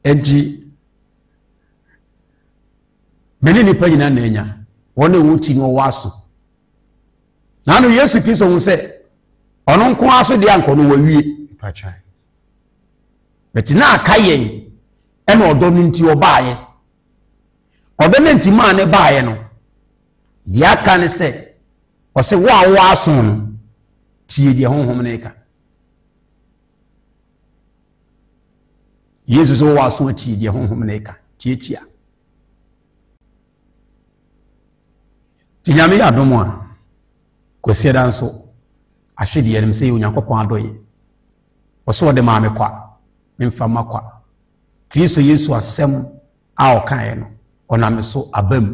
Enti, me ne nnipa nyinaa na anya wɔn a wɔn ti no ɔwɔ aso. Na ano Yesu Kristo ho sɛ ɔno nko ara so deɛ ankɔ no wawie. Bɛti na aka yɛn ɛna ɔdɔ no nti ɔbaayɛ. Ɔdɔ no nti maa ne baayɛ no. Deɛ aka ne sɛ ɔsɛ wo a wɔwɔ aso no tie deɛ honhom no ka. yesu sɛ wɔwɔ aso atie deɛ honhom no ɛka tiatia nti nyame yɛ adom a kwasiada nso ahwe deɛ nom sɛ yɛ onyankopɔn adɔyɛ ɔsɛ ɔde maa me kwa memfa ma kwa kristo yesu asɛm a ɔkaeɛ no ɔname so aba mu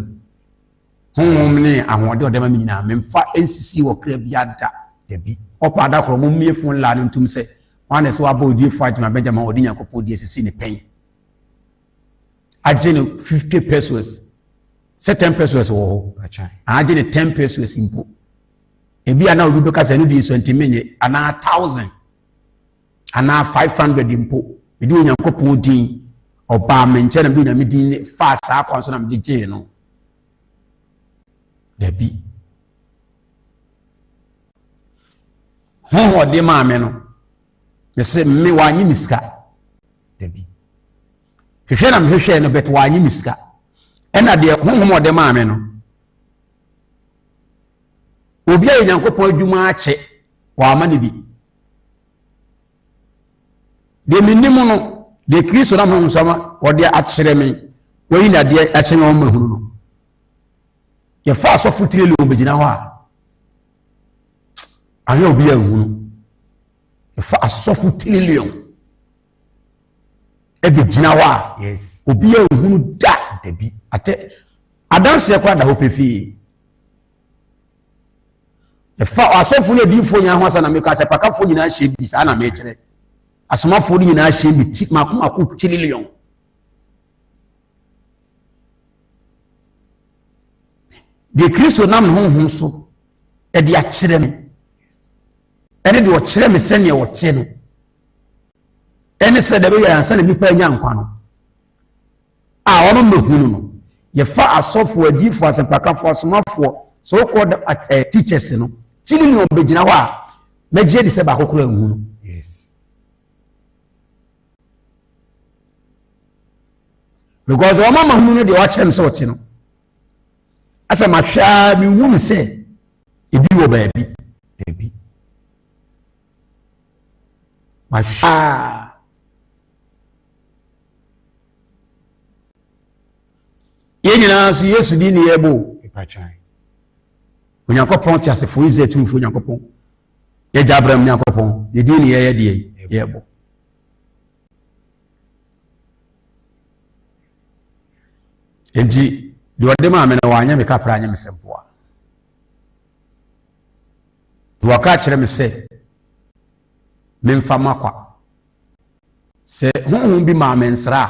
Honhom ne ahoɔden a ɔde ma me nyinaa, memfa nsisi wɔ kra biara da. Dabi. Ɔpa ada koro, mommie fon laa no ntom sɛ, Hwan na ɛsɛ wabɔ odiyifo Adjma Bɛgya ma ɔde Nyankopɔn di asisi ne pɛn? Agye no 50 pesos. Sɛ 10 pesos wɔ hɔ. Agye no 10 pesos mpo. Ebi a na obi bɛka sɛ ɛno deɛ nsuantimi nye, anaa 1000. anaa 500 mpo mede onyankopɔn din ɔbaa me nkyɛn na mede onyame din ne faa saa kwan so na mede gyee no dabi honhom ɔde maa me no mese me wanye me sika dabi hwehwɛ na mehwehwɛ no bɛt wanye me sika ɛna deɛ honhom ɔde maa me no obi a yɛ nyankopɔn adwuma akyɛ wama no bi Deɛ menim no, deɛ Kristo nam honhom nsɛm wɔde akyerɛ me, wɔyi na adeɛ akyerɛ me wɔn hunu no. Yɛfa asɔfo tiri leon bɛgyina hɔ a, ahwɛ obi a nhunu. Yɛfa asɔfo tiri leon ɛbɛgyina hɔ a, obi a nhunu da dabi atɛ adanseɛ koraa da hɔ pefee. Ɛfa asɔfoɔ ne adiyifoɔ nyinaa ho asa na meka sɛ pakafoɔ nyinaa hyɛ bi saa na mekyerɛ. Asomafoɔ no nyinaa hyɛ bi ti mako mako tiriliɔn. Deɛ Kristo nam ne honhom so ɛde akyerɛ me ɛne deɛ ɔkyerɛ me sɛdeɛ ɔte no ɛne sɛ dɛbɛ yɛ ansa na nipa anya nkwa no a wɔn mmɛhunu no yɛfa asɔfoɔ adiyifoɔ asɛmpakafoɔ asomafoɔ so called eh, teachers no ti ne nea ɔbɛgyina hɔ a mɛgye adi sɛ baako koraa nhu no because wɔn ama hunu no deɛ wɔakyerɛ no sɛ ɔte no asɛ mahwɛ a mehu no sɛ ebi wɔ baabi dabi mahwɛ a yɛn nyinaa nso yesu din ne yɛbɔ mpakyɛn onyankopɔn te asefoɔ israel tumfoɔ onyankopɔn yɛgya abram nyankopɔn ne din ne yɛyɛ deɛ yɛbɔ nti deɛ ɔde maa me no wanyɛ me kapra anyɛ me sɛ mpoa wɔka kyerɛ me sɛ memfa makwa Sɛ honhom bi maa me nsra a,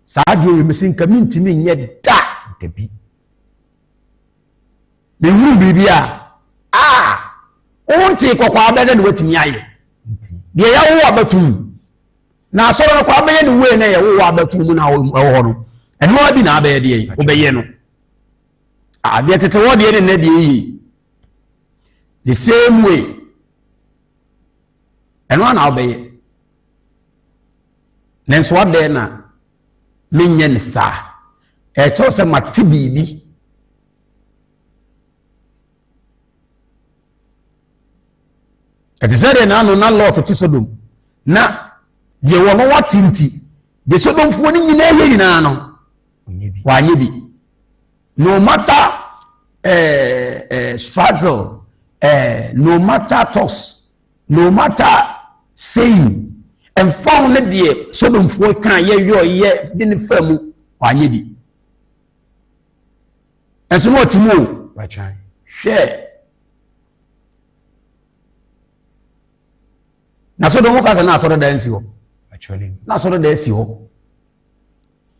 saa adeɛ wei mese nka mentumi nyɛ da dabi. Mehunu biribi a a wontee kɔkɔ abɛ na ne watumi ayɛ deɛ yɛwo abatom na asɔre no kɔ abɛyɛ ne wei na yɛ wowɔ abatom mu na ɛwɔ hɔ no ɛno ara bi na abɛyɛ deɛ yi wobɛyɛ no adeɛ tete hɔ deɛ ne nnɛ deɛ yie the same way Ɛno ara na wobɛyɛ. Nanso adɛn na menyɛ no saa? Ɛkyerɛ sɛ mate biribi. Ɛte sɛ deɛ n'ano na Lot te Sodom na deɛ wɔn no wate nti deɛ Sodomfoɔ no nyinaa yɛ nyinaa no wanyɛ bi. No matter eh, eh, struggle, eh, no matter toss, no matter saying, ɛmfa ho ne deɛ sodomfoɔ ka yɛyɔ yɛ de ne fa mu wanyɛ bi ɛnso na ɔte mu o hwɛ na sodom ka sɛ na asɔre da nsi hɔ na asɔre da asi hɔ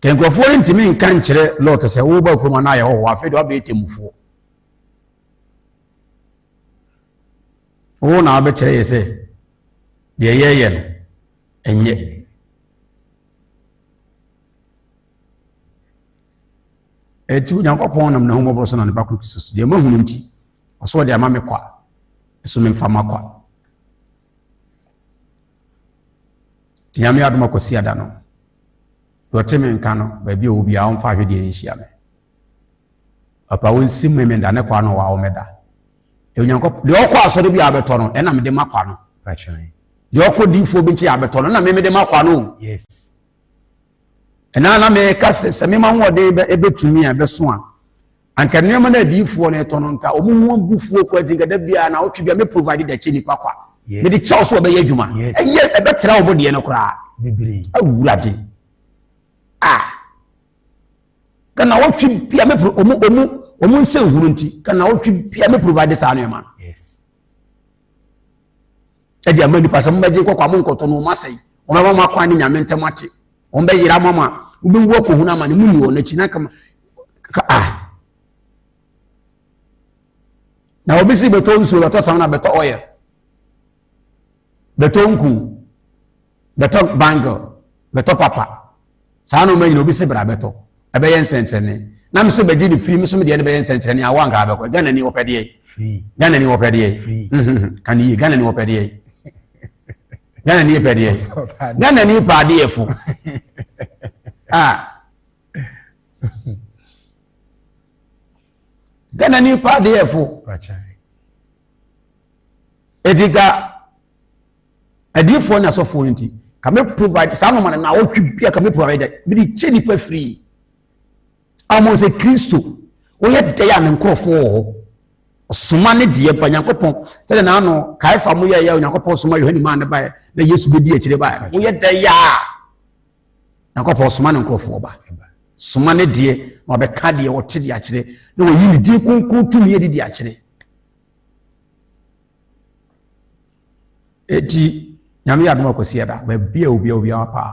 Ka nkurɔfoɔ no ntumi nka nkyerɛ Lot sɛ woba kurom anaa yɛwɔ hɔ afei de wabɛyɛ temmufoɔ. Wo na wabɛkyerɛ yɛ sɛ deɛ yɛyɛ no ɛnyɛ. Ɛti Onyankopɔn nam n'ahummɔborɔ so na ne ba koro Kristo so deɛ mahunu nti ɔsɛ ɔde ama me kwa ɛso memfa ma kwa. Nyame adom a Kwasiada no, deɛ ɔte me nka no, baabi a ɔwɔ biara ɔmfa ahwedeɛ nhyia me. Papa ɔnsi me me da ne kwa no wawo me da. Deɛ Onyankopɔn deɛ ɔkɔ asɔre bi a abɛtɔ no ɛna mede ma kwa no. Deɛ ɔkɔ diifoɔ bi nkyɛn abɛtɔ no ɛna me mede ma kwa no. Ɛna na meka sɛ sɛ mema ahoɔden ɛbɛtumi a ɛbɛso a Anka nneɛma no adiyifoɔ no ɛtɔ no nka wɔn ho agu fuo kɔ nti nka da biara na ɔtwe bia me provide dɛkye nipa kwa mede kyɛw so ɔbɛyɛ adwuma ɛyɛ ɛbɛtra wɔn deɛ no koraa awurade a kana ɔtwe bia me pro ɔmo ɔmo ɔmo nsɛ nhunu nti kana ɔtwe bia me provide saa nneɛma no ɛde ama nipa sɛ mobɛgye kɔkɔ a monkɔtɔ no ɔmasɛe ɔmɛma mo akwan ne nyame ntɛm ate ɔmbɛyera ama mo a wobɛwu akɔhunu ama ne mu ni wɔn akyi na kama ka a na obi si bɛtɔ nsuo bɛtɔ sam na bɛtɔ ɔyɛ bɛtɔ nku bɛtɔ bangle bɛtɔ papa saa nneɛma nyina obi se bra bɛtɔ ɛbɛyɛ nsɛnkyerɛnne na me so bɛgye ne firi me so medeɛ no bɛyɛ nsɛnkyerɛnne awo anka abɛkɔ ghana ni wɔpɛ deɛ ghana ni wɔpɛ deɛ ka ne yie ghana ni wɔpɛ deɛ ghana ni pɛ deɛ ghana ni pɛ adeɛ fo ah ghana ni pɛ adeɛ fo eti ka adiifoɔ ne asɔfoɔ no nti ka me provide saa nɔɔma no na awɔtwe bi a ka me provide dɛ me de kyɛ nipa firi amon sɛ kristo wɔyɛ dɛ a ne nkorɔfoɔ wɔ hɔ ɔsoma ne deɛ ba nyankopɔn sɛdeɛ naano kaefa mo yɛyɛ onyankopɔn soma yohane maa ne baeɛ na yesu bɛdi akyire baeɛ no woyɛ dɛ yɛ a nyankopɔn soma ne nkorɔfoɔ ba soma ne deɛ na wɔbɛka deɛ wɔte deɛ akyerɛ na wɔyi ne din kronkron tumi adi deɛ akyerɛ Eti nyame yɛ adoma kwasi ɛda baabi a obi a obi awa paa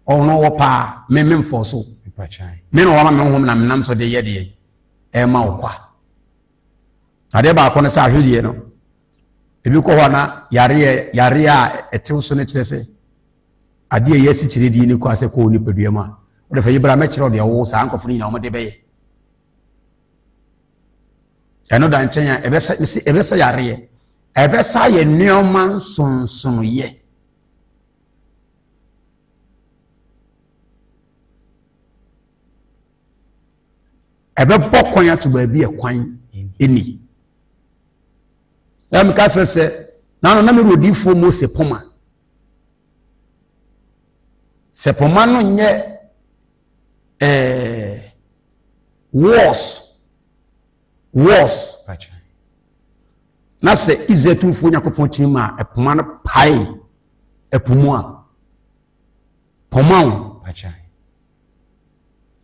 ɔno wɔ paa me me mfɔ so me na ɔwɔ ma me ho na menam so de yɛ deɛ ɛma wo kwa adeɛ baako no sɛ ahwedeɛ no ebi kɔ hɔ na yareɛ yareɛ a ɛtew so no kyerɛ sɛ adeɛ yɛ asikyire die no kɔ asɛ kɔɔ nipadua mu a wɔde fɛ yi bra mɛkyerɛ ɔdeɛ ɔwɔ saa nkɔfo no nyinaa wɔde bɛyɛ ɛno da nkyɛn a ɛbɛsa mesi ɛbɛsa yareɛ ɛbɛsa yɛ nneɛma nsonsonoyɛ ɛbɛbɔ kwan ato baabi ɛkwan ɛni ɛmu ka sɛ sɛ nanu na mi wɔ diifoɔ mu sɛ poma sɛ poma no nyɛ eh, worse worse na sɛ israel tumfoɔ nyankopɔn tumi ma ɛpoma no pae ɛpo mu a pɔma wo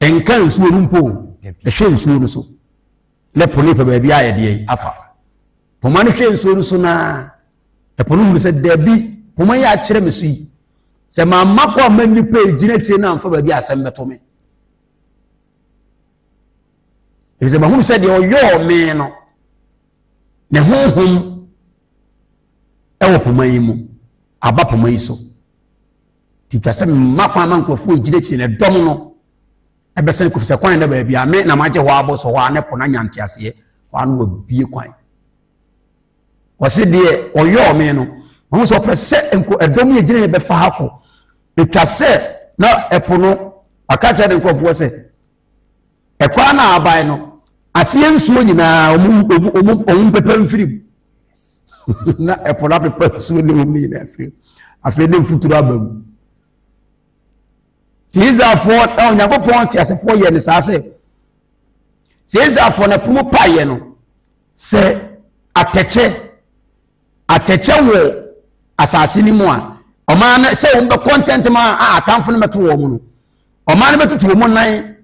ɛnka nsuo no mpo ɛhwɛ nsuo no so Ne po no pɛ baabi a yɛde yɛn afa. Poma no hwɛ nsuo no so na ɛpo no hunu sɛ dabi poma yi akyerɛ me so yi sɛ mamma kɔ amma nnipa ɛgyina akyire no amfa baabi asɛm bɛto me ɛfiri sɛ mahunu sɛ deɛ ɔyɔɔ me no ne honhom ɛwɔ poma yi mu aba poma yi so titwa sɛ mma kwan ma nkurɔfoɔ ɛgyina akyire no ɛdɔm no Ɛbɛsɛn kofisɛ kwan na baabi a me na magye hɔ abo so hɔ a ne po na nya nteaseɛ hɔ ano wabie kwan wɔse deɛ ɔyɔɔ me no wɔn sɛ ɔpɛ sɛ nko ɛdɔm yɛ gyina yɛ bɛfa ha kɔ ɛtwa sɛ na ɛpo no ɔka kyerɛ ne nkurɔfoɔ sɛ ɛkwan na aban no aseɛ nsuo nyinaa ɔmu mpɛpɛ mfiri mu na ɛpo no apepɛ nsuo ne ɔmu nyinaa afiri afei ne mfuturo aba mu Israelfoɔ na Onyankopɔn teasefoɔ yɛ ne saa sɛ sɛ Israelfoɔ na pono paeɛ no sɛ atɛkyɛ atɛkyɛ wɔ asase no mu a ɔman no sɛ wɔn bɛkɔ ntɛntɛm a atamfo no bɛto wɔn no ɔman no bɛtutu wɔn nan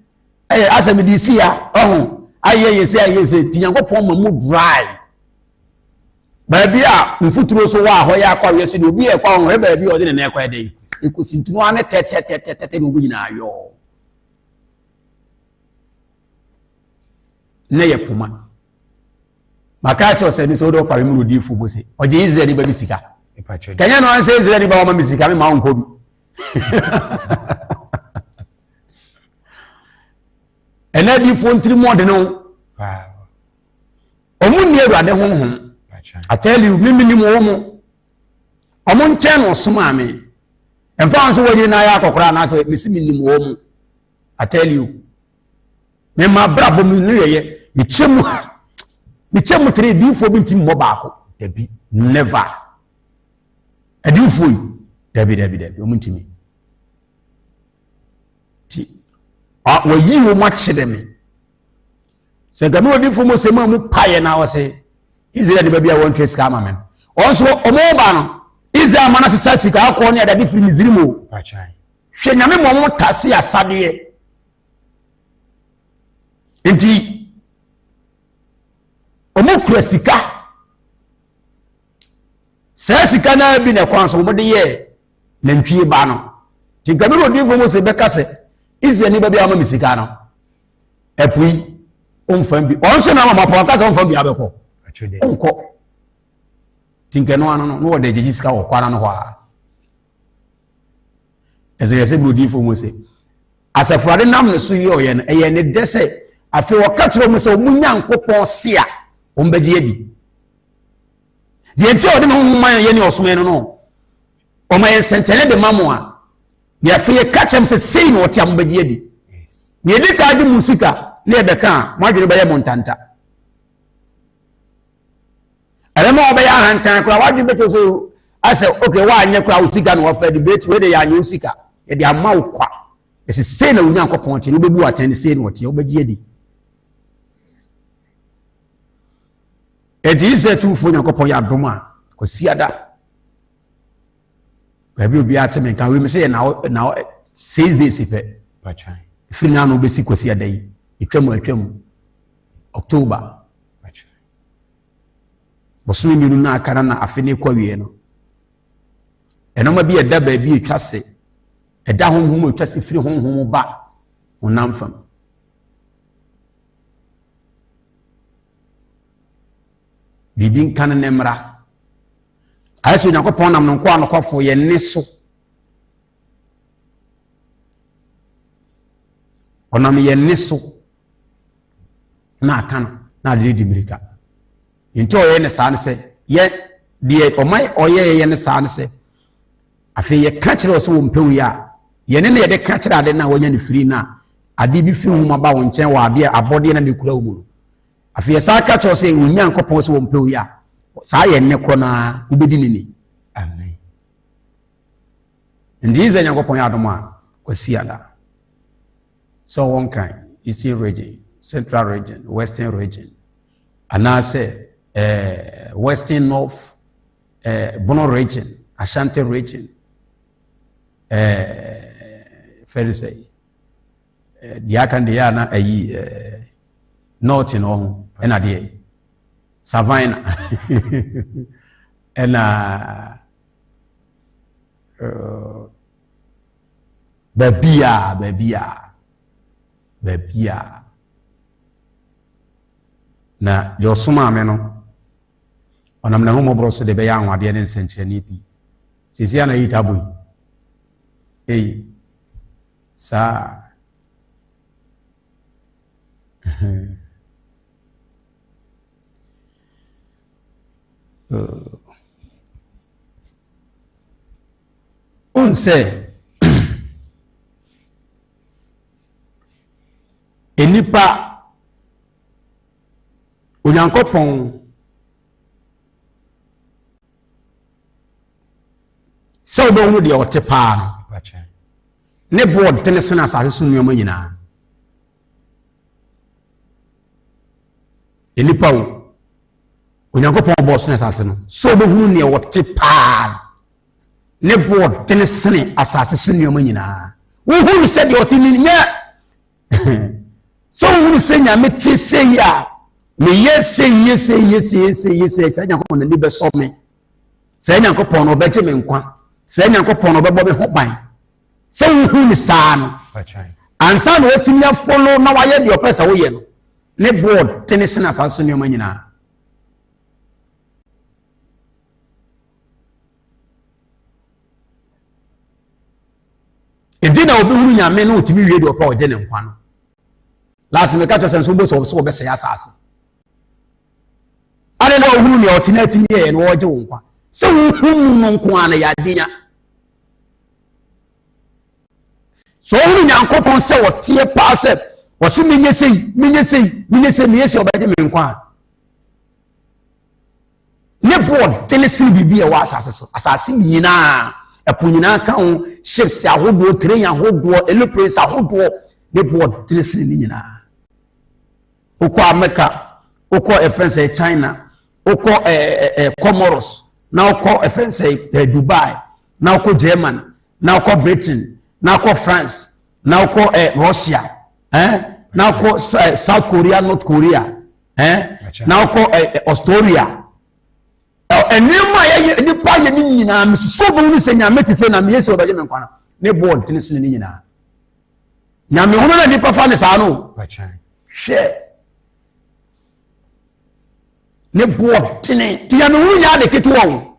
ɛyɛ asɛm de si a ɔho ayɛ yɛ sɛ ayɛ sɛ ti Nyankopɔn ma mu dry. Baabi a mfuturo so hɔ a hɔ yɛ akɔ awiɛ so deɛ obi yɛ kɔ a ɔhwɛ baabi a ɔde ne nan kɔ ɛdɛn ekosi ntunu ano tɛtɛtɛtɛtɛ na ɔmo nyinaa yɔɔ na yɛ poma maka akyɛw sɛ ne sɛ wode ɔpare mu rodi fo bo se ɔgye israel nipa bi sika kɛnyɛ no ansɛ israel nipa wɔma me sika me ma wo nkɔ bi ɛnɛ adiifoɔ ntiri mu ɔde no wɔn nni awurade honhom i tell you me menim wɔn mo wɔn nkyɛn na ɔsom a me mfa wɔn so wɔn yiri na ayɛ akɔkora anaasɛ mesi menim wɔn mo i tell you me ma abrabɔ mu ne yɛyɛ mekyɛ mu mekyɛ mu tere diifoɔ bi nti mmɔ baako dabi never adiifoɔ yi dabi dabi dabi wɔn ntumi ti wɔyi wɔn akyerɛ me. sɛ nka me odifo mu sɛ mu a mu paeɛ na ɔse israel ne baabi a wɔntwe sika ama me no wɔn nso wɔn ba no israel ma no sesa sika akɔ ne adade firi misiri mu hwɛ nyame ma wɔn tase asadeɛ nti wɔn kura sika saa sika no bi na ɛkwan so wɔde yɛ nantwie ba no nti nka me odifo mu sɛ bɛka sɛ israel ne baabi a wɔma me sika no ɛpo yi ɔmfa bi ɔn sɛ na mama po aka sɛ ɔmfa bi abɛkɔ ɔnkɔ nti nkɛ no ano no na wɔde agyegye sika wɔ kwana no hɔ a ɛsɛ yɛ sɛ burodiifoɔ mu sɛ asafurade nam ne so yɛ ɔyɛ no ɛyɛ ne dɛ sɛ afei wɔka kyerɛ mu sɛ wɔn nyankopɔn se a wɔn bɛgye adi deɛ nti a wɔde ne ho ma yɛ ne ɔsomɛ no no wɔma yɛ nsɛnkyɛnne de ma mo a deɛ afei yɛka kyɛm sɛ sei na ɔte a mobɛgye adi na yɛdi taa gye mo sika na yɛbɛka a mo adwene bɛyɛ mo ntanta ɛbɛma wɔbɛyɛ ahantan koraa wadwene bɛtɔ sɛ asɛ ok woanyɛ koraa wo sika na wɔfɛ de bɛti wei de yɛanyɛ wo sika yɛde ama wo kwa ɛsɛ sei na onyankopɔn te no wobɛbu atɛn sei na ɔteɛ wobɛgye adi ɛnti israel tumfoɔ nyankopɔn yɛ adom a kɔsiada baabi obi ate me nka wim sɛ yɛ na na six days pɛ firi na ano bɛsi kwasi ada yi atwam atwam october bosome mmienu na aka na afe ne kɔ wie no ɛnoma bi ɛda baabi atwa se ɛda honhom atwa se firi honhom ba honam fam biribi nka no ne mmara ayɛ sɛ onyankopɔn nam no nkoa nokwafo yɛ nne so ɔnam yɛ nne so na aka no na ade di mmirika nti ɔyɛ ne saa no sɛ yɛ deɛ ɔma ɔyɛ yɛ ne saa no sɛ afei yɛka kyerɛ ɔ sɛ wɔmpɛ wei a yɛne na yɛde ka kyerɛ ade no a wɔanya no firi no a ade bi firi homa ba wo nkyɛn wɔ adeɛ abɔdeɛ na mekura wo mu no Afei yɛsan ka kyerɛ sɛ wɔn Nyankopɔn sɛ wɔmpɛ oyi a saa yɛ nnɛ korɔ no ara wobɛdi ne ni. Amen. Nti yi sɛ Nyankopɔn yɛ adom a kwasi ada sɛ ɔwɔ nkran eastern region central region western region anaasɛ eh, western north eh, bono region ashanti region eh, fɛre sɛ Deɛ aka no deɛ yɛ na ayi nɔɔte no ho ɛna deɛ savina ɛna baabi a baabi a baabi a na deɛ ɔsomaa me no ɔnam na homɔborɔ so de bɛyɛ anwadeɛ ne nsɛnkyerɛnne pii sɛsi a na yi tabo yi ei Saa a, hmm. Wohu sɛ nnipa Onyankopɔn sɛ wobɛhu deɛ ɔte paa no ne boɔ tene sene asase so nneɛma nyinaa nnipa o onyankopɔn ɔbɔɔ sene asase no sɛ wobɛhunu neɛ ɔte paa no ne boɔ tene sene asase so nneɛma nyinaa wohunu sɛdeɛ ɔte no nyɛ sɛ wohunu sɛ nyame te sɛ yi a meyɛ sɛ yie sɛ yie sɛ yie sɛ yie sɛ saa nyankopɔn n'ani bɛsɔ me saa nyankopɔn no ɔbɛgye me nkwa saa nyankopɔn no ɔbɛbɔ me ho ban sɛ wohunu saa no ansa na watumi afolo na wayɛ deɛ ɔpɛ sɛ woyɛ no ne board tene sena saa so nneɛma nyinaa ɛde na obi hunu nyame na ɔtumi wie deɛ ɔpɛ a ɔgye ne nkwa no last meka kyerɛ sɛ nso wobɛsɛ ɔbɛsɛ ɔbɛsɛe asase ade na ɔhunu nea ɔte no atumi yɛyɛ na ɔgye wo nkwa sɛ wohunu no nko a na yɛadenya sɛ ɔhunu nyankopɔn sɛ ɔteɛ paa sɛ ɔse menyɛ sei menyɛ sei menyɛ sei meyɛ sɛ ɔbɛgye me nkwa a Ne bo wɔ den sen biribi a ɛwɔ asase so. Asase nyinaa, ɛpo nyinaa ka ho, ships ahodoɔ, train ahodoɔ, aeroplanes ahodoɔ, ne bo wɔ den sen ne nyinaa. Wokɔ Amerika, wokɔ ɛfɛn eh, sɛ China, wokɔ ɛɛ eh, ɛɛ eh, Comoros, na wokɔ ɛfɛn sɛ ɛɛ Dubai, na wokɔ German, na wokɔ Britain, na wokɔ France, na wokɔ ɛɛ Russia, ɛɛ na wokɔ South Korea, North Korea. Eh, na ɔkɔ eh, eh, Australia nneɛma a yɛyɛ nipa yɛ ne nyinaa mesusu bi ne sɛ nyame te sɛ na meyɛ sɛ ɔbɛgye me nkwa no ne bɔɔ ntene sene ne nyinaa nyame hono na nipa fa ne saa no hwɛ ne bɔɔ ntene nti nyame hono nyɛ ade ketewa o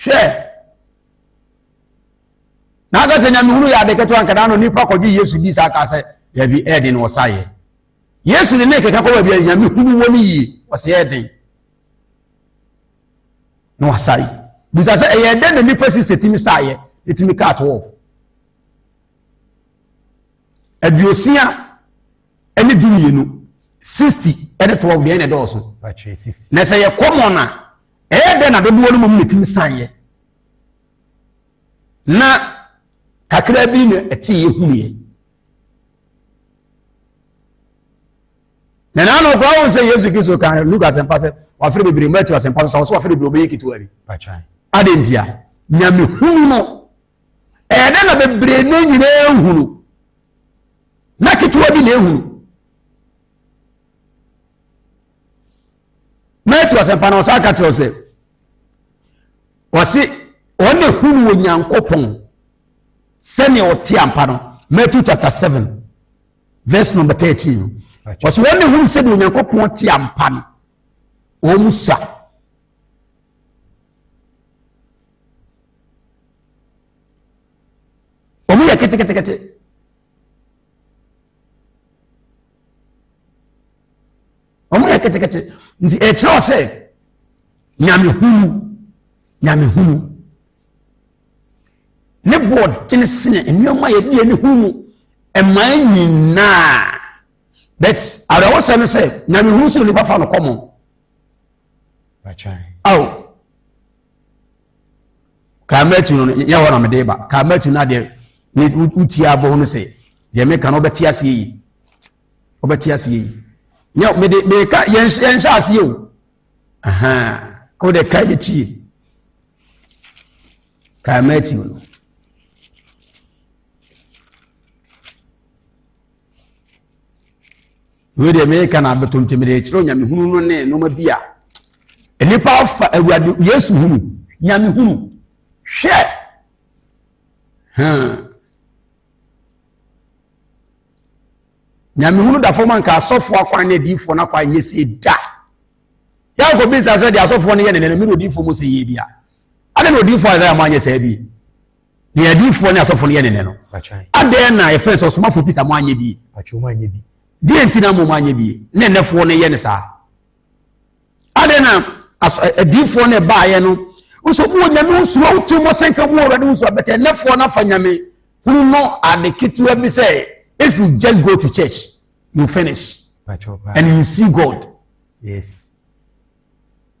hwɛ nanka sɛ nyamehunu yɛ ade ketewa nkadaa no nipa kɔgye yesu di saa kaa sɛ dabi ɛyɛ den na wɔsa yɛ yesu de ne kɛkɛ kɔ baabi a nyamehunu wɔ no yie wɔsɛ yɛ den na wɔsa yi bisa sɛ ɛyɛ dɛn na nipa si sɛ tumi sa yɛ ɛtumi kaa to wɔfo aduosia ɛne du mmienu sixty ɛne twelve deɛ ɛna ɛdɔɔso na sɛ yɛ common a ɛyɛ dɛ na dodoɔ no mu na ɛtumi san yɛ na kakra bi na ɛte yɛ hunu yɛ na naanu kura wɔn sɛ yesu kristo kan luka asɛmpa sɛ wafere bebree mbɛ tu asɛmpa so sɛ ɔsɛ wafere bebree ɔbɛyɛ ketewa bi adantia nyame hunu no Ɛyɛ dɛ na bebree no nyinaa ehu no, na ketewa bi na ehu no. Matthew asɛmpa na ɔsan ka kyerɛ sɛ, ɔse wɔn na ehu no wɔ Nyankopɔn sɛnea ɔte ampa no. Matthew chapter seven verse number thirteen no, ɔse wɔn na ehu no sɛnea Onyankopɔn te ampa no, wɔn mu sa. wɔn yɛ ketekete wɔn yɛ ketekete nti ɛkyerɛ ɔsɛ nyamehunu nyamehunu ne board tene sene nneɛma yɛ deɛ ne hu mu ɛmaa nyinaa but awerɛwosɛ no sɛ nyamehunu so na nipa fa no kɔmɔ. ao kaa matu no nyɛ hɔ na mede ba kaa matu no adeɛ ne wotie abɔ ho no sɛ deɛ meka no wobɛte aseɛ yi wobɛte aseɛ yi nyɛ mede meka yɛnhyɛ aseɛ o ka wode ka yɛ tie kaa matu no wei deɛ mereka na abɛtɔ nti mede kyerɛ onyamehunu no ne nnoɔma bi a nnipa afa awurade yesu hunu nyamehunu hwɛ nyamehunu da fam anka asɔfoɔ akwan ne adiifoɔ no akwan nyɛ sie da yɛakɔ bisa sɛ deɛ asɔfoɔ no yɛ ne ne no mene odiifoɔ mu sɛ yie bi a ade na odiifoɔ a ɛsɛ yɛ mo anyɛ saa bi Deɛ adiyifoɔ ne asɔfoɔ no yɛ ne nɛ no, adɛn na yɛfrɛ sɛ ɔsomafoɔ Peter mo anyɛ bi? Deɛ nti na mmom anyɛ bi ne nnɛfoɔ no yɛ ne saa? Adɛn na adiyifoɔ no ɛbaeɛ no nso mo wɔ nyame ho suro wote mo sɛnka mo wɔ awurade ho suro bɛtɛ nnɛfoɔ no afa nyame hunu no ade ketewa bi sɛ if you just go to church you finish and you see God. Yes.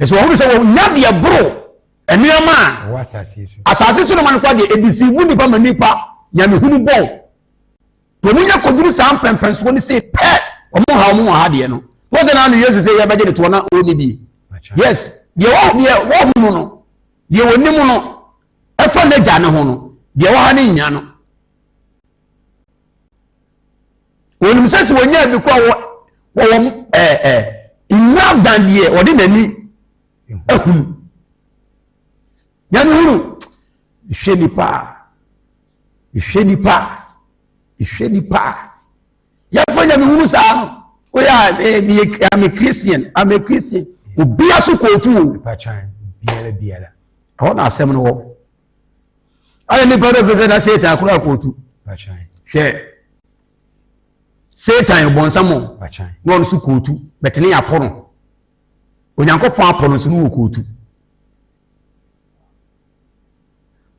ɛsɛ wɔhunu sɛ wɔnya deɛ boro nneɛma a asase so nneɛma no kora deɛ ɛdisivu nnipa ma nnipa nyamehunu bɔn nti wɔn nya kɔduru saa mpɛmpɛnsoɔ no se pɛ wɔn ha wɔn wɔ ha deɛ no wɔn sɛ naanu yesu sɛ yɛbɛgye ne toɔ na wɔnni bi yes deɛ wɔ deɛ wɔhunu no deɛ wɔnim no ɛfa n'agya ne ho no deɛ wɔ ha ne nya no wɔnim sɛ sɛ wɔnya bi kɔ a wɔ wɔwɔ ɛɛ ɛɛ nnwa aban deɛ wɔde n'ani ahunu nyame hunu ehwɛ nipa ehwɛ nipa ehwɛ nipa yɛfɔ nyame hunu saa no oyɛ a ɛɛ meyɛ ame christian ame christian obiara so kootu o ɛhɔ na asɛm no wɔ. ayɛ nipa bɛ fɛsɛ na satan koraa kootu hwɛ satan bɔnsam na ɔno so kootu bɛtene yɛ apɔ no onyankopɔn apɔ no nso no wɔ kootu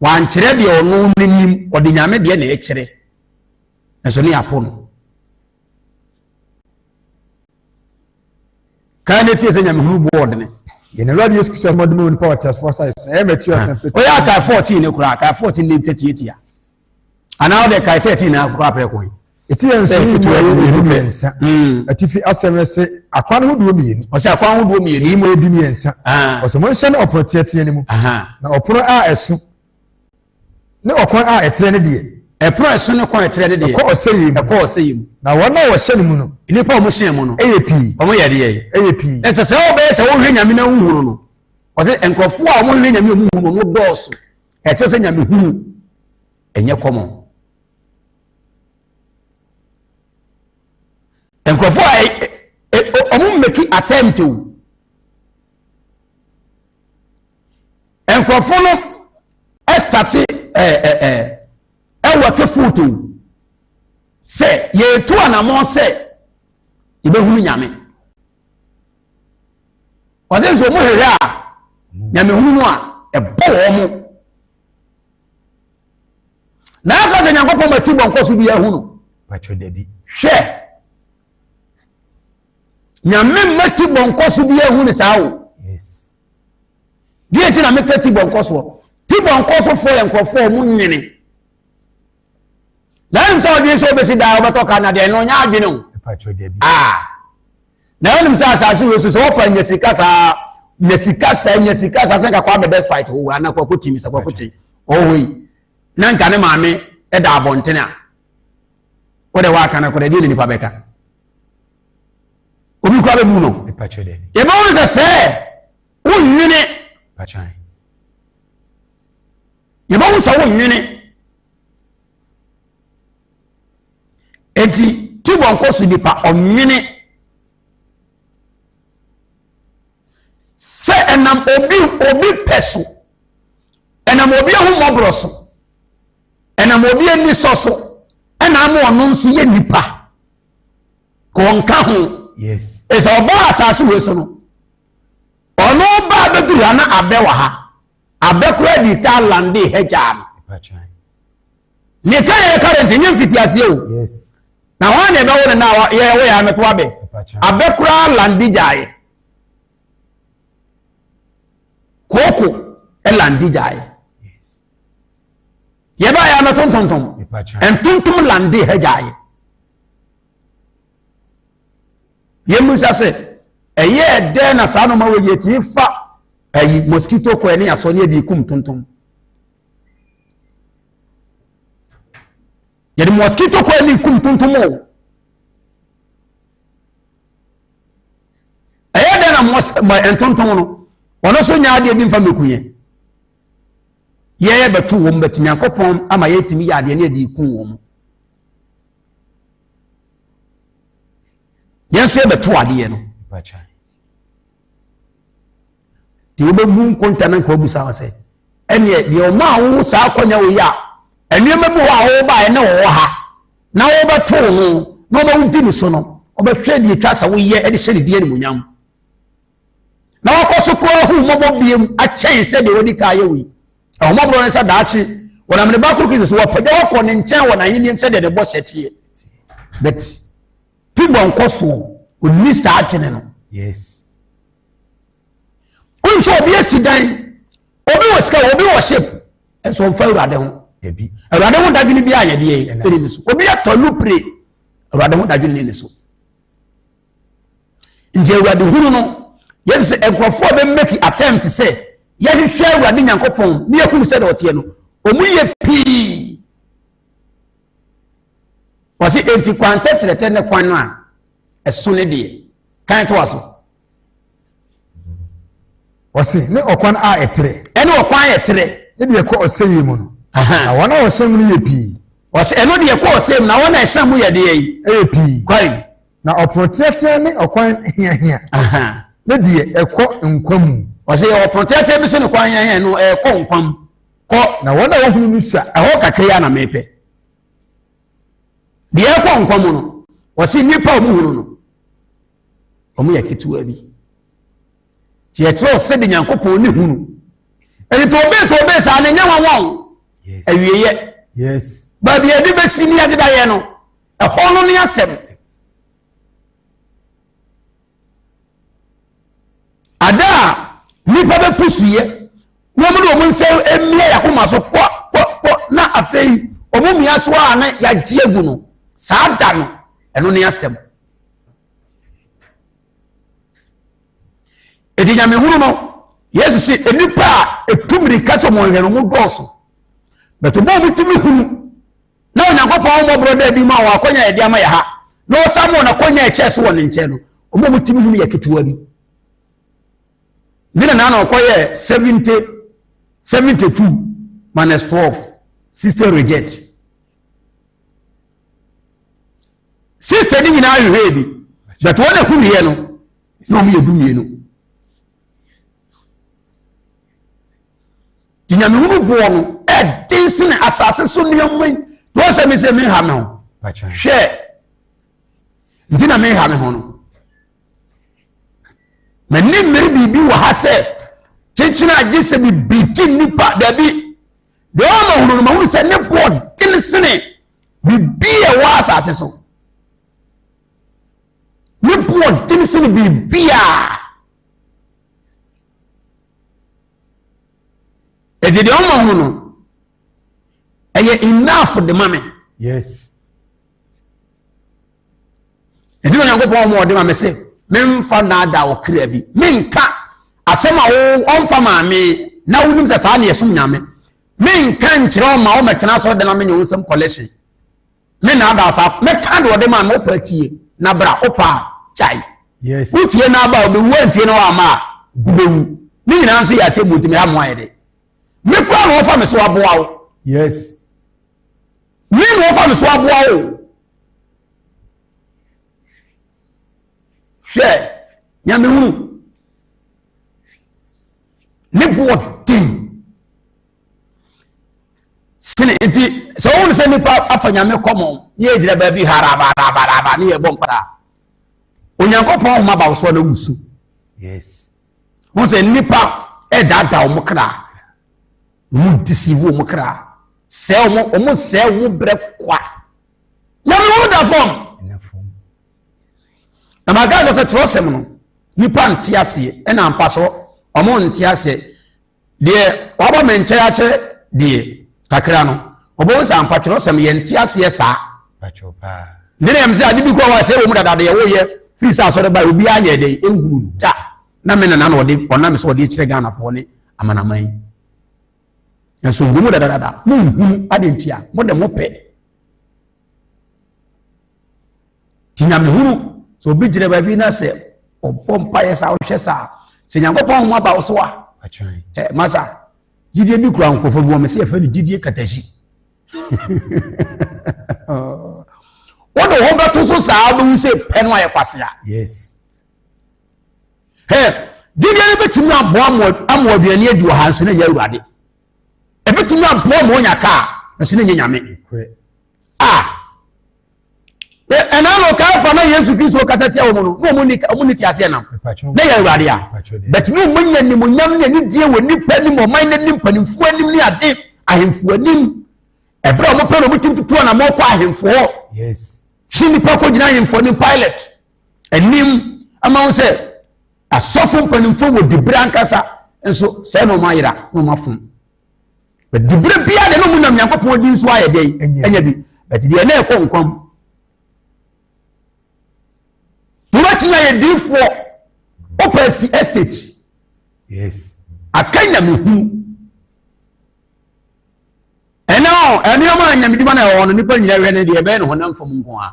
wankyerɛ deɛ ɔno n'anim ɔde nyame deɛ na ɛkyerɛ nso ne apɔ no Kae na tie sɛ nyamehunu boɔ ɔdene. Yɛn Awurade Yesu Kristo asɛm ɔde ma onipa wɔ teasefoɔ asase so. Ɛyɛ Matthew asɛm fɛ. Ɔyɛ akae 14 ne koraa, akae 14 ne ntwa tiatia. Anaa ɔde kae 13 na akokɔ aprɛ kɔn. Ɛti yɛn nso yi mu ɛyɛ mmienu mmiɛnsa. Hmm. Atifi asɛm no se akwan ho duo mmienu. Ɔsɛ akwan ho duo mmienu. Ɛyi mu ɛyɛ du mmiɛnsa. Ah. Ɔsɛ mo nhyɛ ne ɔpono teatea no mu. Na ɔpono a ɛso ne ɔkwan a ɛtrɛ ne deɛ. Ɛpono a ɛso ne kwan a ɛtrɛ ne deɛ. Ɛkɔ ɔsɛeɛ mu. Ɛkɔ ɔsɛeɛ mu. Na wɔn a wɔhyɛn no mu no. Nnipa a wɔhyɛn mu no. Yɛ pii. Wɔyɛ deɛ. Yɛ pii. Ɛsɛ sɛ wɔbɛyɛ sɛ wɔhwɛ Nyame na wɔhu no no. Ɔsɛ nkurɔfoɔ a wɔhwɛ Nyame a wɔhu no no dɔɔso. Ɛkyerɛ sɛ Nyame hunu ɛnyɛ kɔmɔ. nkurɔfoɔ a eh, eh, eh, ɔmo mmeki attempt o nkurɔfo no ɛsate ɛɛ ɛɛ ɛwɔ te foto sɛ yɛretu anamɔ sɛ yɛbɛhunu nyame wɔsɛ nso ɔmo hwehwɛ a nyame hunu no a ɛbɔ wɔn mo na aka sɛ nyankopɔn mati bɔ nkɔ so bi ahunu hwɛ Nyame mma ti bɔ nkɔso bi ehu ne saa o. Deɛ ti na meka ti bɔ nkɔsoɔ. Ti bɔ nkɔsofoɔ yɛ nkurɔfoɔ a wɔn nyene. Na ɛnim sɛ ɔdwene sɛ ɔbɛsi daa ɔbɛtɔ ka na deɛ no ɔnyɛ adwene o. Ah. Na ɛnim sɛ asase wɔ so sɛ wɔpa nya sika saa nya sika saa nya sika saa sɛ kakɔ abɛ despite owó anaa kɔkɔ ti mi sɛ kɔkɔ ti ɔwɔ yi na nka ne maame ɛda abɔnten a. wode waka no kɔdɛ deɛ ne nipa bɛka obi kora bɛbu no yɛbɛwo no sɛ sɛ wonwene yɛbɛwo sɛ wonwene enti tibɔ nkɔ so nipa ɔnwene sɛ ɛnam obi obi pɛ so ɛnam obi ahu mmɔborɔ so Ɛnam obi anisɔ so na ama ɔno nso yɛ nipa. Ka ɔnka ho. Yes. Ɛsɛ ɔbaa asase wei so no. Ɔno baa bɛduru ha na abɛ wɔ ha. Abɛ koraa di taa lande ha gyaa no. Ne ka yɛ current nye mfiti aseɛ o. Yes. Na hɔn na ɛbɛwo no na yɛ wo yɛ amɛto abɛ. Abɛ koraa lande gyaa yɛ. Kooko lande gyaa yɛ. yɛ baa yɛ mɛto ntontom ntontom lande ha gyaeɛ yɛmmisa sɛ ɛyɛɛ dɛn na saa noma wɔ yɛtumi fa ayi mosquito kɔɛ ne asɔ ne ɛde kum ntontom yɛde mosquito kɔɛ ne kum ntontom o ɛyɛ dɛn na ntontom no ɔno nso nya adeɛ bi mfa mɛku yɛn yɛyɛ bɛto wɔn bɛti nyankopɔn ama yɛtumi yɛ adeɛ ne yɛde ku wɔn yɛn nso yɛbɛto adeɛ no deɛ wobɛbu nkonta no nka wabusa wɔ sɛ ɛneɛ deɛ ɔma a wowo saa akɔnya wo yi a nneɛma bi hɔ a wobaeɛ ne wɔwɔ ha na wobɛto no na ɔma wodi ne so no ɔbɛhwɛ deɛ ɛtwa sɛ woyɛ de hyɛ ne deɛ animonyam na wakɔ so koraa ahu mmɔbɔ biom akyɛn sɛdeɛ wadi kan ayɛ wei ahomɔborɔ no sɛ daakye wɔnam ne ba koro kristo so wɔpɛgya wakɔ ne nkyɛn wɔ n'ahenniam sɛdeɛ ne bɔhyɛ teɛ but tibɔ nkɔ soɔ ɔnni saa adwene no yes wonso obi asi dan obi wɔ sika obi wɔ ship ɛnso ɔmfa awurade ho awurade ho dadwene bi a yɛdeɛ ɛne ne so obi atɔ lupre awurade ho dadwene ne ne so Nti Awurade hunu no, yɛsɛ sɛ nkurɔfoɔ bɛ make attempt sɛ yɛhwehwɛ Awurade Nyankopɔn ne yɛhunu sɛ deɛ ɔteɛ no, ɔmu yɛ pii. Wɔse enti kwan tɛtrɛtɛ ne kwan no a ɛso ne deɛ kan to aso. Wɔse ne ɔkwan a ɛtrɛ. Ɛne ɔkwan a ɛtrɛ. Ne deɛ ɛkɔ ɔsɛyɛ mu no. Na wɔn a wɔhyɛ mu no yɛ pii. Wɔse ɛno deɛ ɛkɔ ɔsɛyɛ mu na wɔn a ɛhyɛ mu yɛ deɛ yi. Ɛyɛ pii. Kwae. Na ɔpono teatea ne ɔkwan hiahia ne deɛ ɛkɔ nkwa mu. Ɔsɛ yɛwɔ ɔpono teatea bi so ne kwan hiahia no ɛkɔ nkwa mu kɔ. Na wɔn a wɔhunu no sua. Ɛhɔ kakra yi ara na mepɛ. Deɛ ɛkɔ nkwa mu no, ɔsɛ nnipa a wɔhunu no, wɔn yɛ ketewa bi. Nti yɛkyerɛ ɔsɛ de Nyankopɔn ne hunu. Ɛdi tɔ bee tɔ bee saa ne nyɛ wɔn wɔn. Awieɛ. Baabi a yɛde bɛsi ne yɛde bɛyɛ no. Ɛhɔ no ne asɛm. Ada a nnipa bɛpusuiɛ na wɔn de wɔn nsa mmia yɛakoma so kɔ kɔ kɔ na afei wɔn mmia so a na yɛagye agu no saa da no ɛno ne asɛm. Edi nyamehunu no Yesu si nnipa a etu mmirika sɛ wɔn hwɛ no ho dɔɔso. Bɛtɛ bɔ wɔn tumi hunu na onyankopɔn ahummɔborɔ da adi mu a wɔn akɔnya yɛde ama yɛ ha na ɔsan ma wɔn akɔnya ɛkyɛ so wɔ ne nkyɛn no wɔn a wɔtumi hunu yɛ ketewa bi ne na na ɔkɔyɛ seventy seventy two minus twelve sixty reject sixty ne nyinaa hwehwɛ bi but wɔn a hunu yɛ no na wɔn yɛ du mmienu. nti nyamehunu boɔ no ɛden sene asase so nneɛma yi na wɔn sɛ me sɛ meha me ho hwɛ nti na meha me ho no m'ani mmere biribi wɔ ha sɛ kyekyere agye sɛ bibi ti nnipa dabi deɛ ɔma hunu no ma hunu sɛ ne boɔ den sene biribi a ɛwɔ asase so ne boɔ den sene biribi a ɛde deɛ ɔma ho no ɛyɛ enough de ma me yes ɛde na onyankopɔn ɔma ɔde ma me sɛ memfa naada ɔkra bi menka asɛm a wo ɔmfa maame na wonim sɛ saa ne ɛsom nyame menka nkyerɛ ɔma womɛtena sɛ ɔde na menyɛ wo nsɛm collection Me na ada ɔfa me ka deɛ ɔde maa no ɔpa tie na bra ɔpa a kyae yes wo fie na aba a ɔbɛwu antie na wama a wobɛwu ne nyinaa nso yɛ atɛmmu nti meha mmoa yɛ de me kora na ɔfa me so aboa wo yes me na ɔfa me so aboa wo hwɛ nyame hunu ne boɔ den sini nti sɛ wɔn sɛ nipa afa nyame kɔmɔ ne yɛ gyina baabi harabarabaraba ne yɛ bɔ mpata onyankopɔn ahoma ba so na wusu yes wɔn sɛ nipa ɛdaadaa wɔn kra wɔn deceive wɔn kra sɛ wɔn wɔn sɛ wɔn brɛ kwa nyame wɔn da fam na maa gaa sɛ twerɛsɛm no nipa nte aseɛ ɛna mpa so wɔn nte aseɛ Deɛ waba me nkyɛn akyɛ deɛ kakra no, ɔbɛhu sɛ ampa twerɛsɛm yɛ nte aseɛ saa. Ne na ɛm sɛ ade bi kɔ hɔ a sɛ wɔ mu dada deɛ woyɛ firi sɛ asɔre bae obiara nyɛ dɛn ɛnhunu da na me nana na ɔde ɔnam sɛ ɔde kyerɛ Ghanafoɔ ne amanaman yi nanso wɔ mu dadadada monhunu ade nti a mode mopɛ Nti nyamehunu, sɛ obi gyina baabi na sɛ ɔbɔ mpaeɛ saa ɔhwɛ saa sɛ nyankopɔn homa ba wo so a masa gyidie bi kura nkurɔfoɔ bi wɔmɛ sɛ yɛfɛ no gyidie katahyi wode ho bɛto so saa wobɛhu sɛ pɛ no ayɛ kwasea gyidie no bɛtumi aboa ama aduane adi wɔ ha nso na ɛyɛ awurade ɛbɛtumi aboa ma ɔnya kaa nso na ɛnyɛ nyame a ɛna no kaafa na yesu kristo kasa tia wɔn no na wɔn ni wɔn ni te aseɛ nam na yɛ awurade a bɛtumi wɔn nyɛ nimonyam ne anidie wɔ nipa anim ɔman n'anim mpanimfoɔ anim ne ade ahemfo anim ɛberɛ a wɔn pɛ na wɔn ti tutu na wɔn kɔ ahemfo hɔ si nipa kɔ gyina ahemfo anim pilot anim ama wɔn sɛ asɔfo mpanimfoɔ wɔ dibere ankasa nso sɛ na wɔn ayera na wɔn afom. diberɛ biara deɛ na ɔmu nam nyankopɔn din so ayɛ dɛn ɛnyɛ bi but deɛ na ɛkɔ nkwa mu wobɛtumi ayɛ diifoɔ wopɛ asi estate aka nyamehunu ɛnɛ ɔ ɛnoɔma a nyamedwuma no ɛwɔ no nnipa nyina wɛ no deɛ ɛbɛyɛ ne honam fam nko a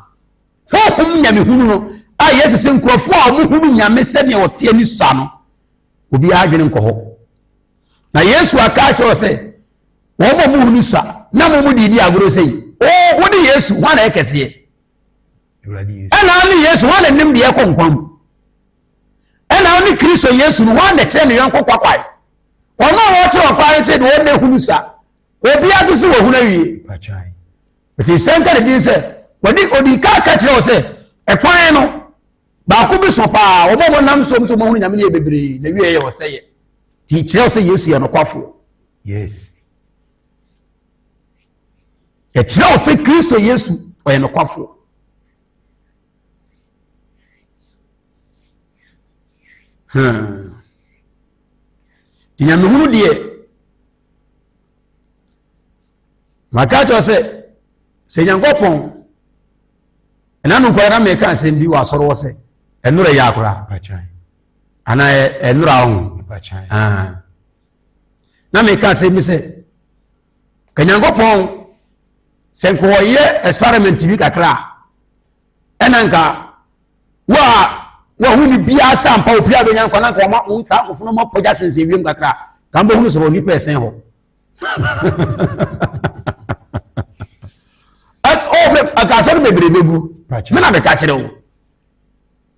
honhom nyamehunu no a yesu sɛ nkurɔfoɔ a ɔmohunu nyame sɛdeɛ ɔteɛ ne sua no obiara adwene nkɔ hɔ Na Yesu aka akyerɛ sɛ, wɔn a wɔhu no sua na mo mu de di agorɔ sɛ yi. O, wode Yesu, hwan na ɛkɛseɛ? Ɛna ne Yesu, hwan na nim deɛ ɛkɔ nkwa mu? Ɛna wo ne Kristo Yesu no, hwan na kyerɛ ne yɔnko kwakwae? Wɔn a wɔkyerɛ ɔkwan sɛ deɛ wɔn na ɛhu no sua. Obiara to so wɔ ho no awie. Ɛti sɛ nka ne din sɛ, wɔde odi ka ka kyerɛ wo sɛ, ɛkwan no, Baako bi so paa, wɔn a wɔnam nsuom so wɔahunu Nyame no yɛ bebree, na wieɛ yɛ ɔsɛeɛ. Nti kyerɛ wo sɛ Yesu yɛ nokwafoɔ. Yes. Ɛkyerɛ wo sɛ Kristo Yesu ɔyɛ nokwafoɔ. Hmm. Nti nyamehunu deɛ, maka kyerɛ sɛ, sɛ Nyankopɔn ɛna no nkɔla na mɛka asɛm bi wɔ asɔre hɔ sɛ ɛnora yɛ akora ana ɛnora ho ah. na mɛka asɛm bi sɛ kanyankopɔn sɛ nkɔyɛ experiment bi kakra ɛna nka wo a wahu ne biara sɛ ampa obiara bɛnya nkwa na nka ɔma saa nkɔfo no ma pɔgya sensɛ wiem kakra ka mbɛhunu sɔrɔ nnipa ɛsɛn hɔ asɛm bebrebe gu me na meka kyerɛ wo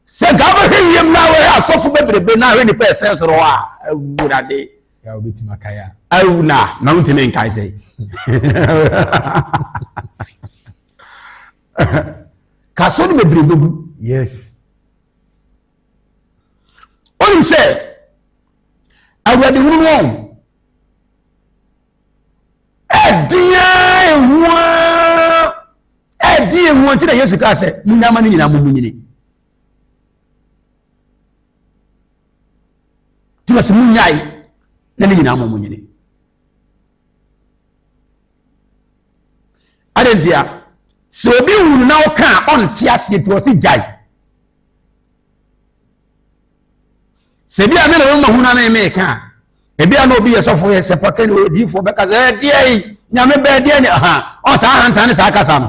sɛ nka wobɛhwɛ wiem na wɛhɛ asɔfo bebrebe na ahwɛ nipa ɛsɛn soro hɔ a awurade awu na na wontumi nkae sɛ ka so no bebrebe gu yes wonim sɛ awurade hunu no Ɛden a ɛhu a ɛden ɛhu nti na Yesu kaa sɛ munyama no nyinaa mumunyini. Nti na sɛ munyae na ne nyinaa mumunyini. Adɛn nti a sɛ obi wunu na ɔka a ɔnte aseɛ nti ɔse gyae. sɛ ebi a me na mema hunu ame me ka ebi a na obi yɛ sɔfo yɛ sɛ pɔtɛ ne ɔyɛ diifo bɛka sɛ ɛdeɛ yi nyame bɛɛ deɛ ne ha ɔ saa ahantan ne saa kasa no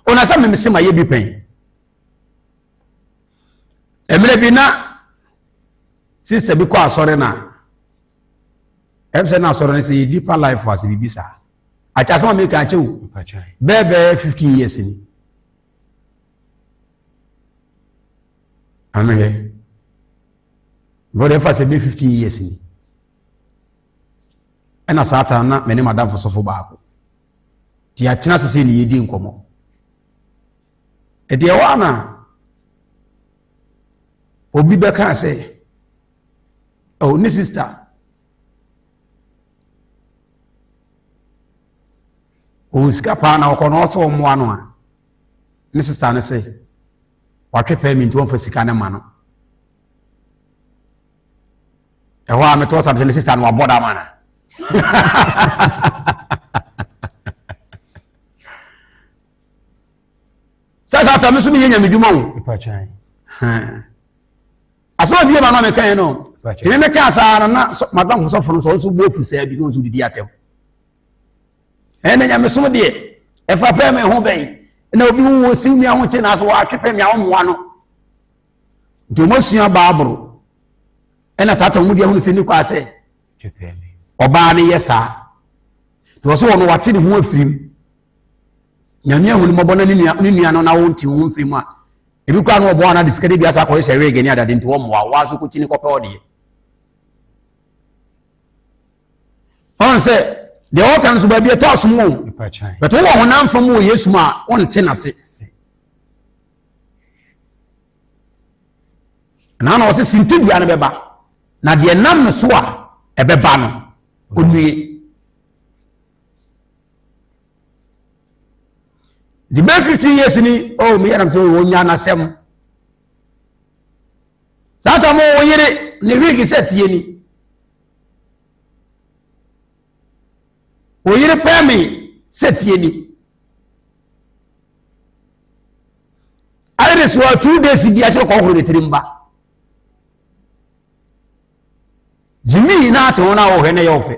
ɔna sɛ meme se ma yɛ bi pɛn mmerɛ bi na sista bi kɔ asɔre no a ɛm sɛ na asɔre no sɛ yɛ deeper life ase biribi saa akyɛ asɛm a meka akyɛ o bɛɛ bɛɛ 15 years ni Ano yɛ. Brɔda ɛfa sɛ bɛ 15 years ni. Ɛna saa taa na mene madamfo sɔfo baako. Nti yɛatena ase sɛ ne yɛdi nkɔmmɔ. Ɛdeɛ hɔ ana obi bɛka sɛ oh, ne sista ɔwɔ sika paa na ɔkɔ na ɔsɛ ɔmmoa no a ne sista no sɛ watwe pɛɛ mi nti wɔmfa sika no ma no ɛhɔ a metɔ sa sɛ ne sista no wabɔ da ma no sɛ sɛ afei me so meyɛ nyamedwuma o asɛm abie ma no mekaɛ no tene meka saa no na madɔnkosɔfo no sɛ ɔnso bɔɔfu saa bi na ɔnso didi atɛm ɛnna nyamesom deɛ ɛfa pɛɛ ma ɛho bɛn na obi hu wɔn siw nua ho kye na so wɔatwe pɛ nea wɔmmoa no nti wɔasua baaboro ɛnna saa tɔn mu deɛ ahunu sɛ ne kɔ asɛ ɔbaa no yɛ saa nti wɔ so wɔn wɔate ne ho afiri mu nyame ahunu mmɔbɔ na ne nua no na wɔnte ho mfiri mu a ebi kora no ɔboa no ade sika de bi asa akɔyɛ sɛ wege ne adade nti wɔmmoa wɔn aso kɔkyi ne kɔpɛ ɔdeɛ ɔn sɛ deɛ ɔka no so baabi ɛtɔ asom o bɛtɔ wɔ honam fam wɔ yesu mu a ɔnte n'ase na na ɔsɛ sintidua no bɛba na deɛ nam no so a ɛbɛba no ɔnwie the bɛɛ fifteen years ni oh mi yɛrɛ mi sɛ wɔn nya n'asɛm saa ta mo wɔn yere ne wig sɛ tie ni. Wo yere pɛɛ me sɛ tie ni. Ayɛ de so a two days bi akyerɛ kɔhoro ne tirim ba. Jimmy na ate ho na wɔhwɛ na ɛyɛ ɔfɛ.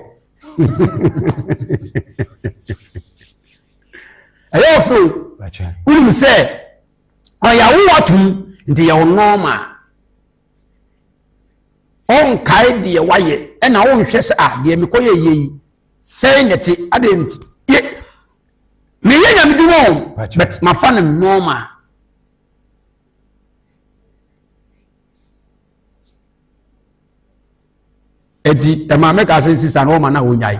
ɛyɛ ɔfɛ o. Wonim sɛ ɔyɛ awowa tom nti yɛ wo nɔɔma. Ɔnkae deɛ wayɛ, ɛna ɔnhwɛ sɛ a ah, deɛ mekɔ yɛ yɛ yi sɛn na ɛte adeɛ nti yɛ meyɛ nyame dwuma o but mafa no nɔɔma ɛti ɛma mɛka sɛ sisa nɔɔma na ɔnyae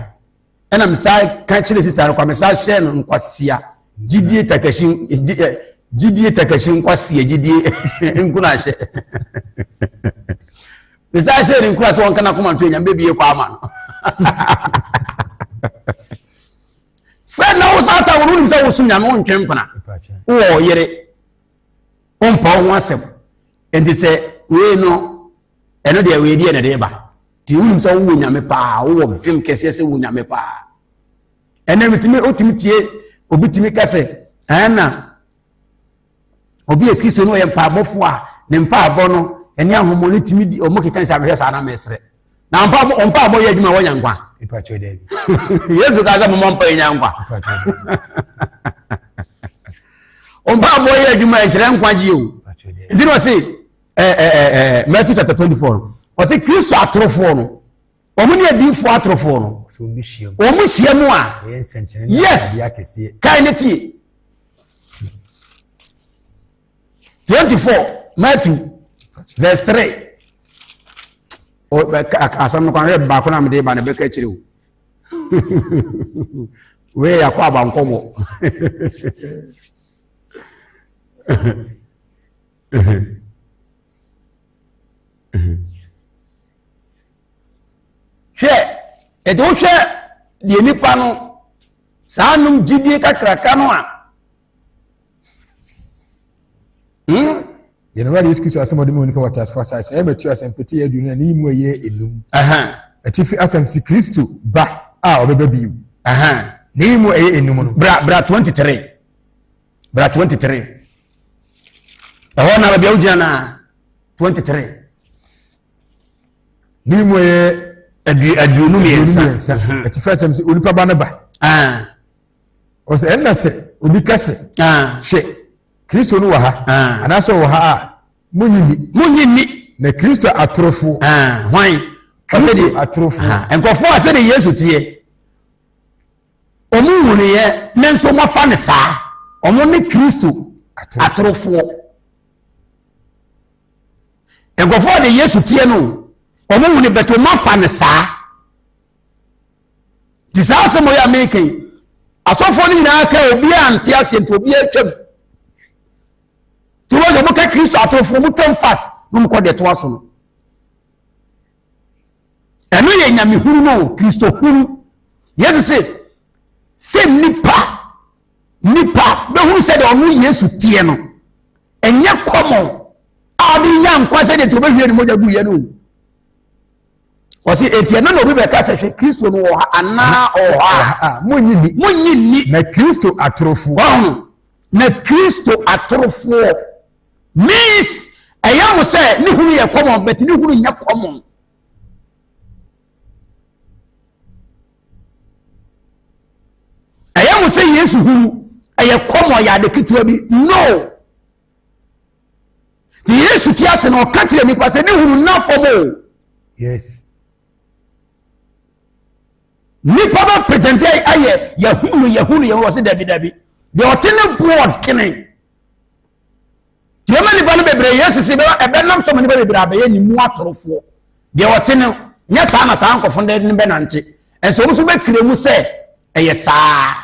ɛna mesaa ka kyerɛ sista no kwa mesaa hyɛɛ no nkwasea gyidie takahyi gyidie takahyi nkwasea gyidie nkunahyɛ mesaa hyɛɛ no nkura sɛ wɔnka no akoma nto anyame bɛbie kɔ ama no sɛ na wo saa ta wono nim sɛ wosom nyame wontwe mpena wowɔ yere wompa wo ho asɛm enti sɛ wei no ɛno deɛ wei deɛ ne de ba Ti wonim sɛ wowɔ nyame paa wowɔ vim kɛseɛ sɛ wɔ nyame paa ɛnɛ metumi wotumi tie obi tumi ka sɛ ɛna obi yɛ kristo no ɔyɛ mpaabɔfoɔ a ne mpaabɔ no ɛne ahomɔ no tumi di ɔmo keka sɛ amehwɛ saa na mesrɛ na mpaabɔ ɔmpaabɔ yɛ adwuma wɔnya nkwa yesu ka sɛ momɔ mpa ɛnya nkwa ɔmpaabɔ yɛ adwuma ɛnkyerɛ nkwagye o nti na ɔse ɛɛ eh, ɛɛ eh, ɛɛ eh, Matthew chapter twenty four no ɔsi Kristo atorofoɔ no wɔn ne adiifoɔ atorofoɔ no wɔn hyia mu a yes kan ne tie twenty four Matthew verse three asam no kwan yɛ baako na mede ba na bɛka akyire o wei yɛ akɔ abankɔmɔ. hwɛ ɛde wohwɛ deɛ nipa no saa nom gyidie kakraka no a hmm? yɛn awurade yesu kristo asɛm ɔde mu onipa wɔ tasfo asase ɛyɛ mɛtu asɛm pete yɛ aduonu na ne yi mu ɛyɛ enum atifi asɛm si kristo ba a ɔbɛba bio ne yi mu ɛyɛ enum no bra bra twenty three bra 23 ɛhɔ na baabi a wogyina na 23 ne mu yɛ aduonu mmiɛnsa ɛti fɛ sɛm sɛ onipa ba no ba ɔsɛ ɛnna sɛ obi ka sɛ hwɛ kristo no wɔ ha anaasɛ ɔwɔ ha a monyi ni monyi ni na kristo atorofo hwan kristo atorofo nkɔfoɔ a sɛdeɛ yesu teɛ Wɔhunuiɛ ne nso mofa no saa. Wɔn ne Kristo atorofoɔ. Nkurɔfoɔ de Yesu teɛ no wɔhunu bɛt wɔafa no saa. Nti saa asɛm ɔyɛ a meka yi asɔfoɔ no nyinaa ka obiara nte aseɛ nti obiara twam. Nti wɔyɛ wɔka Kristo atorofoɔ wɔtwam fast na wɔkɔ deɛ ɛtoa so no. Ɛno yɛ nyamehunu no o, Kristohunu. Yesu se, sɛ nnipa, nnipa bɛhunu sɛ deɛ ɔno Yesu teɛ no, ɛnyɛ kɔmɔ a ɔde nya nkwa sɛ deɛ nti ɔbɛhwie ne mogya gu yɛ no o. Ɔse eti ɛno na obi bɛka sɛ hwɛ Kristo no wɔ ha anaa ɔwɔ ha a. Monyi nni. Monyi nni. Na Kristo atorofoɔ. Ɔho. Na Kristo atorofoɔ. Miss, ɛyɛ mo sɛ ne hunu yɛ common but ne hunu nyɛ common. Ɛyɛ mo sɛ Yesu hunu ɛyɛ common yɛ ade ketewa bi no. Te Yesu ti ase na ɔka kyerɛ nipa sɛ ne hunu nna fam o. Yes. Nipa bɛ pretend ayɛ yɛhunu yɛhunu yɛhunu wɔ se dabi dabi. Deɛ ɔte ne board kene. Deɛ ɔma nnipa no bebree Yesu si bɛba ɛbɛnam so ma nnipa bebree abɛyɛ ne mu atorofoɔ. Deɛ ɔte no nyɛ saa na saa nkɔfo no bɛnante. Ɛnso wɔn nso bɛtwerɛ mu sɛ ɛyɛ saa.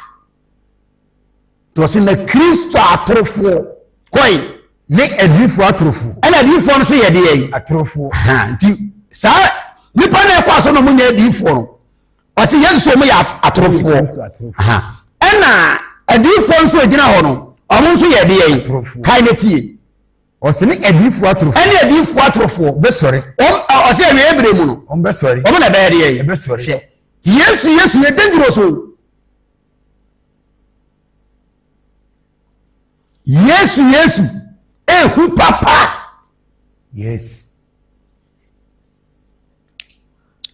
Deɛ ɔsi na Kristo atorofoɔ kɔe. Ne adiyifoɔ atorofoɔ. Ɛna adiyifoɔ no so yɛ deɛ yi. Atorofoɔ. Nti saa nipa na ɛkɔ aso na wɔn nyɛ adiyifoɔ no. ɔsi yesu sɛ ɔmo yɛ atorofoɔ ɛna adiifoɔ nso egyina hɔ no ɔmo nso yɛ ɛdeɛ yi kae na tie ɔsi ne adiifoɔ atorofoɔ ɛne adiifoɔ atorofoɔ bɛsɔre ɔm ɔsi ɛwɛ ebire mu no ɔmo bɛsɔre ɔmo na ɛbɛyɛ ɛdeɛ yi ɛbɛsɔre hwɛ yesu yesu yɛ dangerous o yesu yesu ehu papa yes.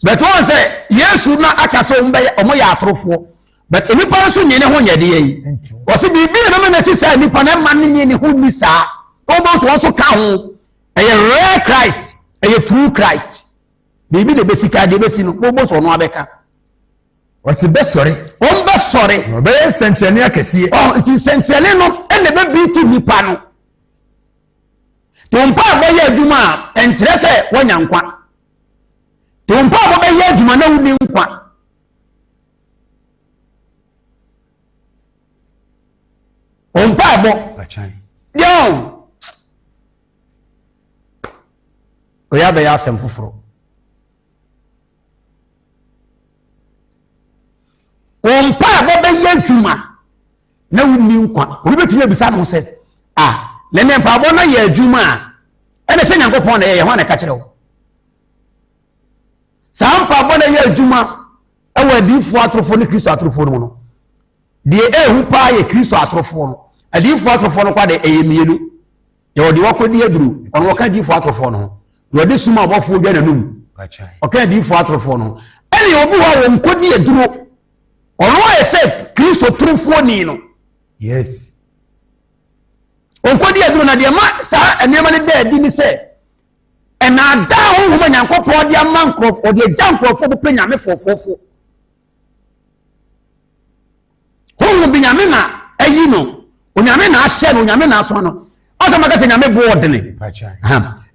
But wɔn sɛ Yesu na aka sɛ wɔn bɛyɛ wɔn yɛ atorofoɔ. But nipa nso nye ne ho nyɛ deɛ yi. Wɔsi biribi na mɛma n'asi saa nipa na ɛma ne nye ne ho ni saa. Wɔn bɔ nso wɔn nso ka ho. Ɛyɛ rare Christ, ɛyɛ true Christ. Biribi na ebesi ka deɛ ebesi no, wɔn bɔ nso wɔn abɛka. Wɔsi bɛsɔre. Wɔn bɛsɔre. Wɔbɛyɛ nsɛnkyerɛnne akɛseɛ. Ɔ nti nsɛnkyerɛnne no ɛna ɛbɛbi ti nipa no. Te wo mpaebɔ yɛ adwuma a, ɛnkyerɛ sɛ woanya nkwa. Te wo mpaebɔ bɛyɛ adwuma na wonni nkwa. Wo mpaebɔ deɛ ɔyɛ abɛyɛ asɛm foforɔ. Wo mpaebɔ bɛyɛ adwuma na wonni nkwa obi bɛtumi abisa no sɛ a na ne mpaabɔ no yɛ adwuma a ɛne sɛ nyankopɔn na ɛyɛ ho a na ɛka kyerɛ wo saa mpaabɔ no yɛ adwuma ɛwɔ adiyifoɔ atorofoɔ ne kristo atorofoɔ no mu no deɛ ɛhu paa yɛ kristo atorofoɔ no adiyifoɔ atorofoɔ no kwa de ɛyɛ mmienu yɛwɔ deɛ wɔkɔdi aduro ɔno wɔka adiyifoɔ atorofoɔ no ho na ɔde suma ɔbɔfoɔ dwa n'anum ɔka adiyifoɔ atorofoɔ no ɛne obi hɔ a wɔnkɔdi aduro Ɔno ayɛ sɛ Kristo torofoɔ ni no. Yes. Ɔnkɔdi aduro na deɛ ma saa nneɛma no da adi ne sɛ ɛnaadaa honhom a Nyankopɔn ɔde ama nkurɔfoɔ ɔde agya nkurɔfoɔ bɛpɛ nyame fɔfɔfo. Honhom bi nyame na ayi no onyame na ahyɛ no onyame na asoma no ɔsɛ maka sɛ nyame boɔ ɔdene.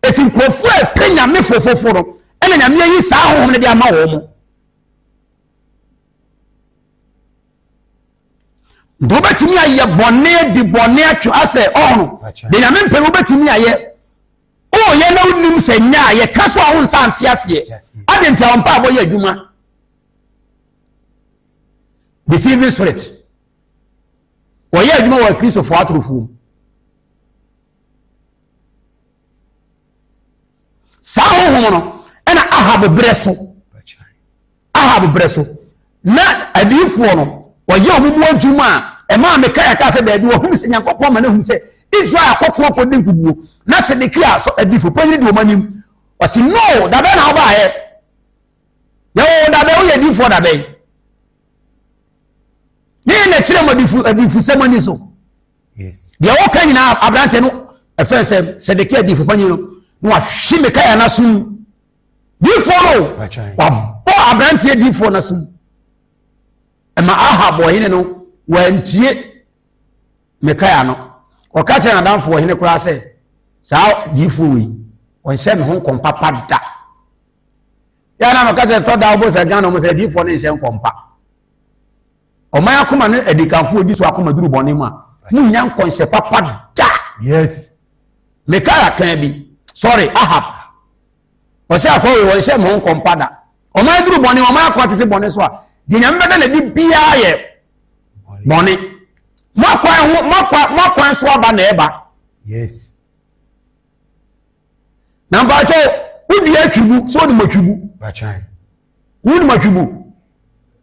Ɛti nkurɔfoɔ a ɛpɛ nyame fɔfɔfo no ɛna nyame ayi saa honhom no de ama wɔn mo. nti wobɛtumi ayɛ bɔne adi bɔne atwe asɛ ɔhono de nyame mpɛ wobɛtumi ayɛ woyɛ na wonim sɛ nyɛ a yɛka so a wo nsa nte aseɛ ade nti a wɔmpa abɔ yɛ adwuma deceiving spirit wɔyɛ adwuma wɔ akristofoɔ atorofoɔ mu saa honhom no ɛna ahab berɛ so ahab berɛ so na adiyifoɔ no wɔyɛ wɔn mu adwuma a ɛmaa mekae aka sɛ daabi wɔhunu sɛ nyankopɔn ma no ahunu sɛ israel akɔko akɔdi nkuguo na sedekia so adifo panyini de wɔn anim ɔsi no dabɛ na ɔbaayɛ yɛwɔ dabɛ woyɛ adiyifoɔ dabɛ ne yɛ na ɛkyerɛ mu adifo adifo sɛm ani so deɛ wɔka nyinaa aberanteɛ no ɛfɛn sɛ sɛdekia diifo panyin no na wahye mikaia no asom diifo no wabɔ aberanteɛ diifo no asom ɛma ahab ɔhene no wantie mikaia no ɔka kyerɛ n'adamfo ɔhene koraa sɛ saa diifo wei ɔnhyɛ me ho nkɔm papa da yɛa na no ka sɛ tɔ da wobɔ sɛ ghana mu sɛ diifo no nhyɛ nkɔm pa Ɔman akoma ne adikanfoɔ di so akoma duru bɔne mu a, monnya nkɔnhyɛ papa da. Yes. Mikaia kan bi, sorry, Ahab. Ɔsɛ akɔ wɔ wɔn hyɛ mo nkɔmpa da. Ɔman duru bɔne, ɔman akoma te se bɔne so a, deɛ nyame bɛda na di biara yɛ bɔne. Moakwan ho, moakwan so aba na ɛba. Yes. Na mpakyɛw, wodi atwibu, so wodi mo atwibu. Wonim atwibu?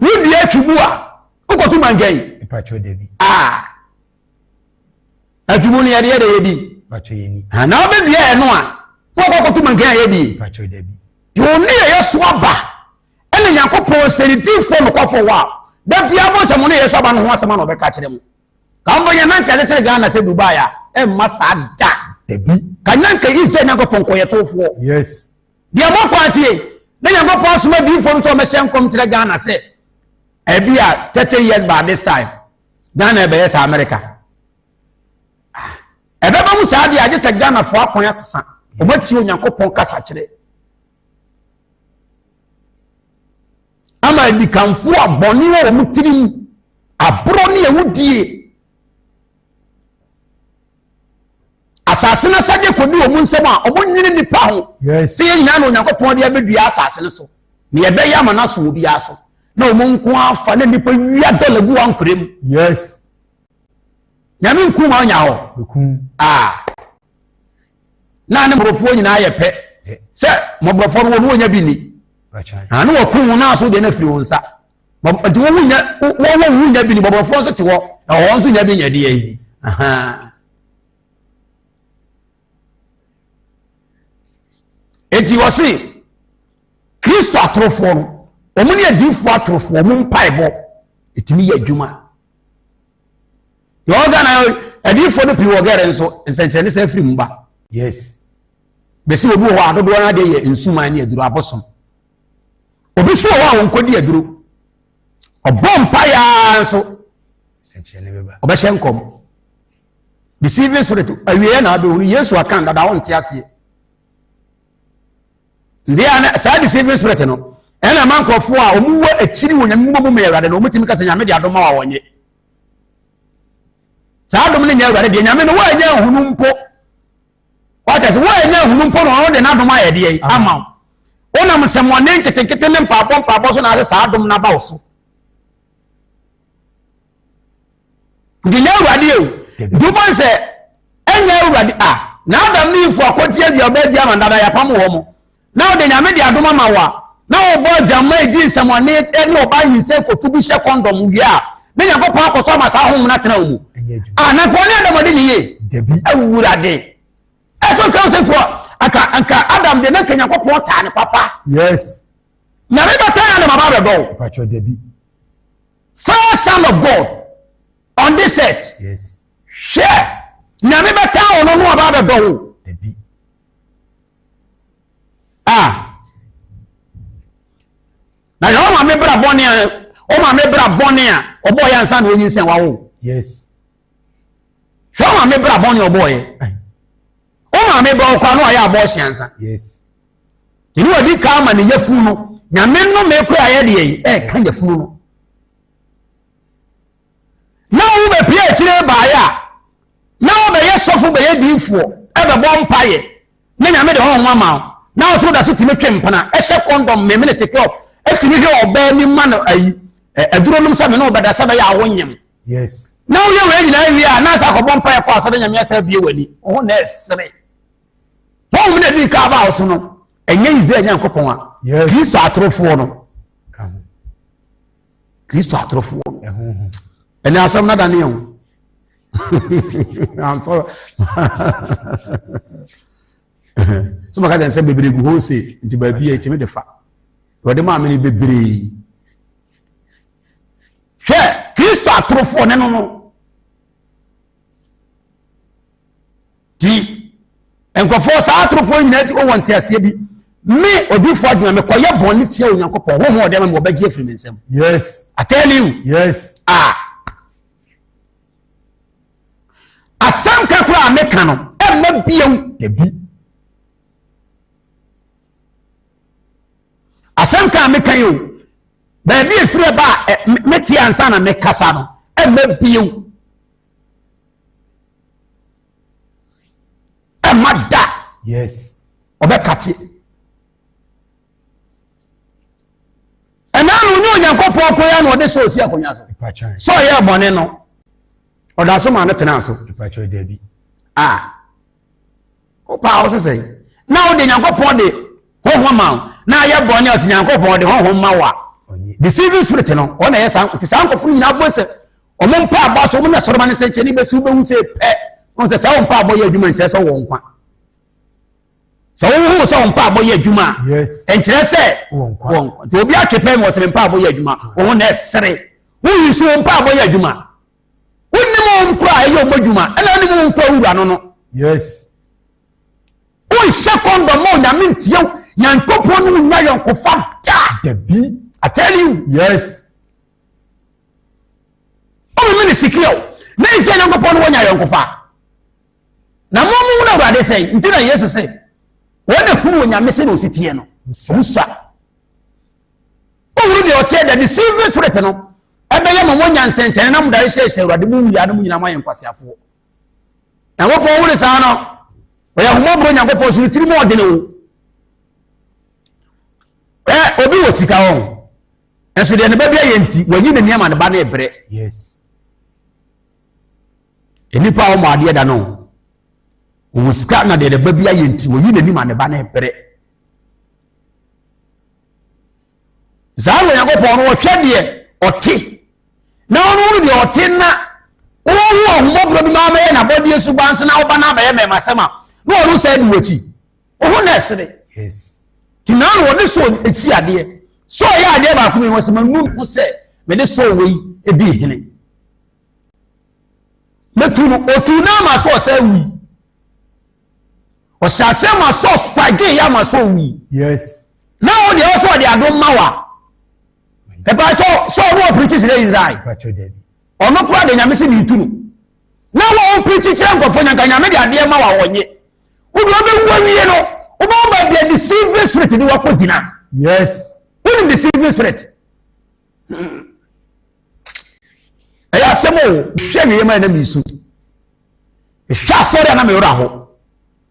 wodua afibu a wokɔto mankan mpakyɛ da bi a afibu no yɛde yɛ dɛ yɛdi mpakyɛ yɛni na wobɛdua ɛno a na wɔkɔ akɔto mankan a yɛdi mpakyɛ da bi deɛ ɔne yɛ yɛ so aba ɛna nyankopɔn sɛnitifoɔ nokɔfoɔ hɔ a da biara mo sɛ mo ne yɛ so aba no ho asɛm a na ɔbɛka kyerɛ mo ka mbɔ yɛ nanka de kyerɛ ghana sɛ dubai a ɛmma saa da dabi ka nyanka israel nyankopɔn kɔyɛ tofoɔ yes Deɛ mɔkɔ atie ne Nyankopɔn asoma adiyifoɔ no sɛ wɔbɛhyɛ nkɔm nkyerɛ Ghana sɛ ebi a 30 years by this time Ghana ɛbɛyɛ sɛ America. Ah, ɛbɛba mu saa deɛ agye sɛ Ghanafoɔ akwan asesa wɔatie Onyankopɔn kasa kyerɛ. Ama adikanfoɔ a bɔne wɔ wɔn tirim aborɔ ne awudie Asase no asɛdeɛ kɔdi wɔn nsam a, wɔnwene nnipa ho sɛ yɛn nyinaa na Onyankopɔn de abɛdua asase no so na yɛbɛyɛ ama no aso obiara so na wɔn nko afa na nnipa wia dɔla gu ankorɛ mu. Yes. Nyame nku ma ɔnya hɔ. Ah. Na ne mmɔbɔfoɔ nyinaa yɛ pɛ sɛ mmɔbɔfoɔ no wɔn wɔnya bi ni. Ano wɔko wɔn aso deɛ no afiri wɔn nsa. ɛde wɔn ho nya wɔn wɔn ho nya bi ni bɔbɔfoɔ nso te hɔ na wɔn nso nya bi nyɛ deɛ yi eti wɔsi kristo atorofoɔ no wɔn ne adiifoɔ atorofoɔ wɔn mpaebɔ etumi yɛ adwuma deɛ ɔga na adiifoɔ no pii wɔ gɛrɛ nso nsɛnkyerɛnne sɛ afiri mu ba yes bɛsi obi wɔ hɔ adodoɔ no adeɛ yɛ nsuman ne aduru abosom Obi nso wɔ hɔ a wɔnkɔdi aduro. Ɔbɔ mpaeɛ ara nso ɔbɛhyɛ nkɔm. Deceiving spirit awieɛ na abɛhunu Yesu akan dada ɔnte aseɛ. Ndeɛ saa deceiving spirit no ɛna ɛma nkurɔfoɔ a wɔn wɔ akyiri wɔ nyame mmɔmu mu awurade no wɔn tumi kasa nyame de adom ma wɔn nye saa adom no nyɛ awurade deɛ nyame no wɔnyɛ nhunu mpo wate ase woanya ahunu mpo na ɔno de n'adom ayɛ deɛ ama wo wonam nsɛmmɔne nketenkete ne mpaabɔ mpaabɔ so na ase saa adom no aba wo so nti nyɛ awurade o nti wobɔ sɛ ɛnyɛ awurade a na adam ne ifo akɔgye aduaba adi ama dada yɛapam wɔ mo na ɔde nyame de adom ama wo a na wobɔ adwamma edi nsɛmɔne ne ɔbaa nyinsɛn koto bi hyɛ kɔndɔm wie a ne nyankopɔn akɔ so ama saa honhom no atena wo mu anafo ne adam ɔde ne ye awurade ɛsɛ ɔtwa wo sɛ kuɔ aka anka adam de na nka nyankopɔn taa ne papa yes nyame bɛtaa adam aba bɛdɔ wo first son of god on this earth yes hwɛ nyame bɛtaa wo no no aba bɛdɔ wo a na yɛ ɔma me bra bɔne a ɔma me bra bɔne a ɔbɔ yɛ ansa na onyin sɛ wawo yes hwɛ ɔma me bra bɔne a ɔbɔ yɛ ɔma me bra ɔkwa no a yɛ abɔ ɔhyɛ ansa yes ɛni wɔ di kaa ma ne yɛ funu no nyame no me kura yɛ deɛ yi ɛka yɛ funu no na wɔn mu bɛpie akyire baeɛ a na wɔbɛyɛ sɔfo bɛyɛ diifoɔ ɛbɛbɔ mpaeɛ na nyame de hɔn ama wo na ɔsoro da so tumi twe mpena ɛhyɛ kɔndɔm memene sekɔ ɛtumi hwɛ ɔbaa ni ma no ayi aduro nom sɛ me ne ɔbɛda sɛ bɛyɛ awo nyem na woyɛ wei nyinaa awie a na sɛ akɔbɔ mpaeɛ kɔ asɔre nyame asɛ bie w'ani ɔho na ɛsere wɔn mu na ɛdi ka aba wo so no ɛnyɛ israel nyankopɔn a kristo atorofoɔ no kristo atorofoɔ no ɛne asɛm no adaneɛ ho amfa sɛ maka kyɛn sɛ bebree gu hɔ se nti baabi a ɛtumi de fa wɔde maa me no bebree hwɛ kristo atorofoɔ ne no no Ti nkurɔfoɔ saa atorofoɔ nyinaa ti wɔn nteaseɛ bi me odiifoɔ adwuma mekɔyɛ bɔne tia onyankopɔn honhom ɔde ma me wɔbɛgye afiri me nsam yes i tell you yes ah asɛm ka koraa meka no ɛmma biam dabi asɛm ka meka yi o baabi efiri ba a mete ansa na mekasa no ɛmma biam ɛma da yes ɔbɛkate ɛnaa na ɔnyɛ onyankopɔn kwan ya na ɔde sɛ ɔsi akonnwa so sɛ ɔyɛ ɛbɔne no ɔda so ma no tena so a wopɛ a wo sesɛ na wode nyankopɔn de honhom ma wo na ayɛ bɔne ɔte nyankopɔn de honhom ma wo a deceiving spirit no ɔna ɛyɛ saa nkote saa nkɔfo no nyinaa bɔ sɛ wɔn mpaabɔ aso wɔn na sɔrɔma ne sɛnkyɛnni bɛsi wobɛhu sɛ pɛ wɔn sɛ saa wɔn mpaabɔ yɛ adwuma nkyerɛ sɛ wɔn nkwa sɛ wohu sɛ wɔn mpaabɔ yɛ adwuma a nkyerɛ sɛ wɔn nkwa nti obi atwe pɛ mi wɔ sɛ mpaabɔ yɛ adwuma wɔn na ɛsere woyi so wɔn mpaabɔ yɛ adwuma wonim wɔn nkura a ɛyɛ wɔn adwuma ɛna wonim wɔn nkura wura no no wonhyɛ kɔndɔm a onyame ntiɛw nyankopɔn no wonya yɔnkofa da dabi atɛliw yes Ɔmeme ne sikre o, me ne Israel Nyankopɔn no wɔnyɛ ayɔnkofa. Na mo mo wuna Awurade sɛn nti na Yesu se wɔn na hunu Onyame sɛ na osi teɛ no. Ɔmo sua. Ɔhunu deɛ ɔteɛ dɛ de silver spirit no ɛbɛyɛ ma mo nya nsɛnkyɛnne na mo dare hyɛhyɛ Awurade mo wuyɛ anom nyinaa mo ayɛ nkwaseafoɔ. Nyankopɔn wone saa no ɔyɛ ahomɔborɔ Nyankopɔn so no tiri mu ɔdene wo. Ɛ obi wɔ sika wɔn. Nanso deɛ ne bɛbrɛ yɛ nti, wayi ne nneɛma ne ba no rebrɛ. Yes. Nnipa a wɔn adeɛ da no, wɔn sika na deɛ ne ba bi ayɛ nti, wɔyi n'anim a ne ba no rebrɛ. Saa na Onyankopɔn no wɔhwɛ deɛ ɔte na ɔno no deɛ ɔte na wɔn ho ahomɔborɔ bi ma abɛyɛ n'abɔdeɛ suban so na ɔba no abɛyɛ mɛmasɛm a na ɔno saa di wɔn akyi. ohun na ɛsere ti naa na wɔde so esi adeɛ so ɔyɛ adeɛ baako mi wɔsi ma nu ho sɛ mede so wei edi hene metu no otu naa ma so ɔsɛ wi ɔhyɛ ase ma so fage ya ma so wi na wɔn deɛ ɔsɛ ɔde ado ma wa ɛpatsɔ sɛ ɔno wɔ pirikyi kyerɛ israel ɔno kura de nyame si ne tu no na wɔn pirikyi kyerɛ nkɔfo nyanka nyame de adeɛ ma wa wɔnye. Wo deɛ wobɛwu awie no, wobɛwo ba deɛ deceiving spirit de wakɔ gyina. Yes. Wonim deceiving spirit. Hmm. Ɛyɛ asɛm o, hwɛ wie ma ɛna mi su. Hwɛ asɔre a na me wura ho.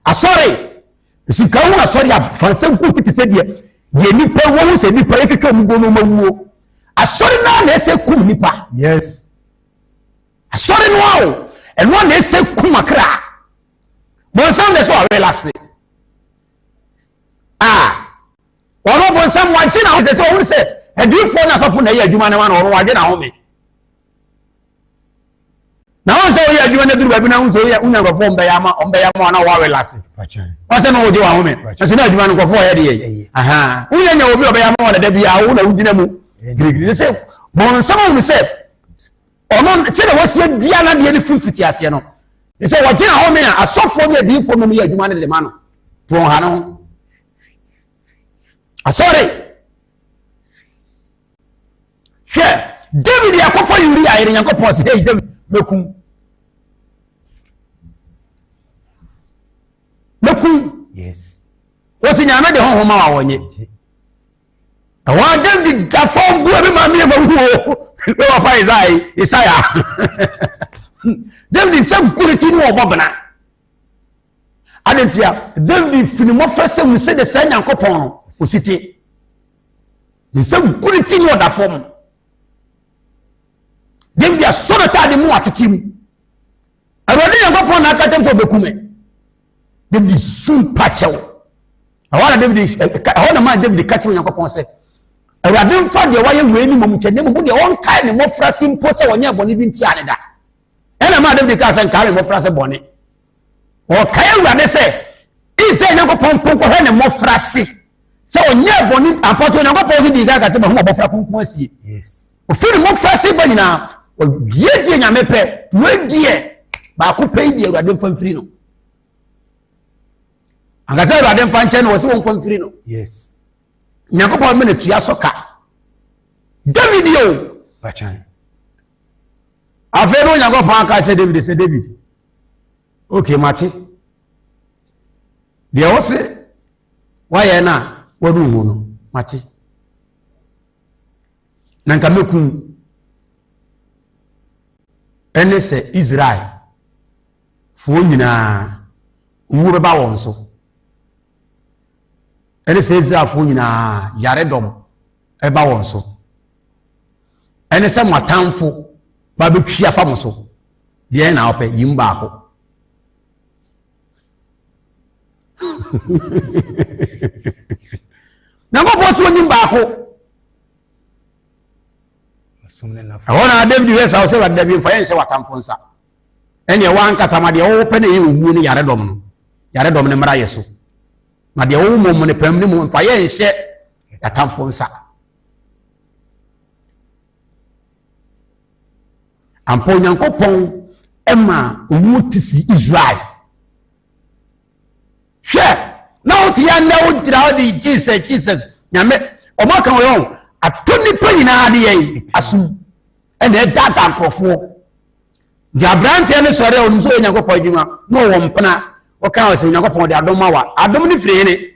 Asɔre. Sika hu asɔre a fansɛm ko tete sɛ deɛ deɛ nipa wɔwu sɛ nipa yɛ twitwa mu go no ma wuo. Asɔre naa na ɛsɛ kum nipa. Yes. Asɔre no a o, ɛno na ɛsɛ kum akra. bonsam de so ɔwere ase a ɔno bonsam wagye na ɔsɛ sɛ ɔhunu sɛ adiifoɔ na asɔfo na ɛyɛ adwuma no ma na ɔno wagye na home na wọn sɛ ɔyɛ adwuma no aduru baabi na wọn sɛ ɔyɛ ɔnya nkurɔfoɔ ɔmbɛyɛ ama ɔmbɛyɛ ama ɔna wɔawɛ lase ɔsɛ na ɔgye wɔn ahome ɛsɛ na adwuma no nkurɔfoɔ ɔyɛ deɛ yi ahan wọn yɛ nya obi ɔbɛyɛ ama wɔn dada bi a wɔn na wogyina mu girigiri sɛ bɔnsɛm ahunu sɛ ɔno sɛdeɛ wɔsi adua no adeɛ no firi fiti aseɛ no ne sɛ wɔgyina hɔ me a asɔfoɔ ne adiyifoɔ mmom yɛ adwuma no de ma no to wɔn ha no ho asɔre hwɛ david yɛ akɔfɔ uria yɛde nyankopɔn sɛ hei david mɛkum mɛkum wɔte nyame de honhoma a wɔnyɛ ɛhɔ a david da fam bu ɛbi maa mmiɛnfa mu o ne papa isai isaia david sɛ nkuriti ne ɔbɔ bena adantia david fini mmɔfra sɛ mu sɛ de saa nyankopɔn no osite ne sɛ nkuriti ne ɔda fam david asɔre taade mu atete mu awurade nyankopɔn na aka kyɛm sɛ ɔbɛku me david su mpa kyɛ wo ɛhɔ na david ɛhɔ na maa david ka kyerɛ onyankopɔn sɛ awurade mfa deɛ wayɛ wei ne mmom kyɛ ne mmom deɛ ɔnkae ne mmɔfra se mpo sɛ ɔnyɛ bɔne bi ntia ne da ɛna maa david kaa sɛ nkae ne mmɔfra se bɔne ɔkae awurade sɛ israel nyankopɔn mpo nkɔhwɛ ne mmɔfra se sɛ ɔnyɛ bɔne apɔtɔ onyankopɔn so dii ka ka kyɛ ma ho abɔfra kronkron asie yes ɔfiri ne mmɔfraase ba nyinaa ɔyɛ deɛ nyame pɛ wei deɛ baako pɛ yi deɛ awurade mfa mfiri no ankasa awurade mfa nkyɛn na ɔsɛ wɔn mfa mfiri no nyankopɔn mene tua so ka david yɛ o afei no onyankopɔn aka kyerɛ david sɛ david okay mate deɛ wɔ se woayɛ no a wɔne hu no mate na nka mɛkum ɛne sɛ israel foɔ nyinaa owuo bɛba wɔn so ɛne sɛ israelfoɔ nyinaa yaredɔm ɛba wɔn so ɛne sɛ mo atamfo ba bɛtwi afa mo so deɛ na wopɛ yim baako nyankopɔn so ɔnim baako ɛhɔ na david hwɛ sa wo sɛ wade dabi mfa yɛ nhyɛ watamfo nsa ɛneɛ woankasa ma deɛ wɔwɔ pɛ na ɛyɛ owuo no yaredɔm no yaredɔm no mmara yɛ so na deɛ wɔwɔ mmom no pam no mu mfa yɛ nhyɛ atamfo nsa Ampa Onyankopɔn ma ɔmu te si Israel. Hwɛ, na wote yɛ nnɛ wogyina hɔ de Jesus Jesus nyame ɔmo aka wɔ yɛn ato nipa nyinaa de yɛn asom ɛna ɛdata nkorɔfoɔ gye aberanteɛ no sɔre a ɔno nso yɛ Onyankopɔn adwuma na ɔwɔ mpena ɔka wɔ sɛ Onyankopɔn de adom ma wa adom no firi hene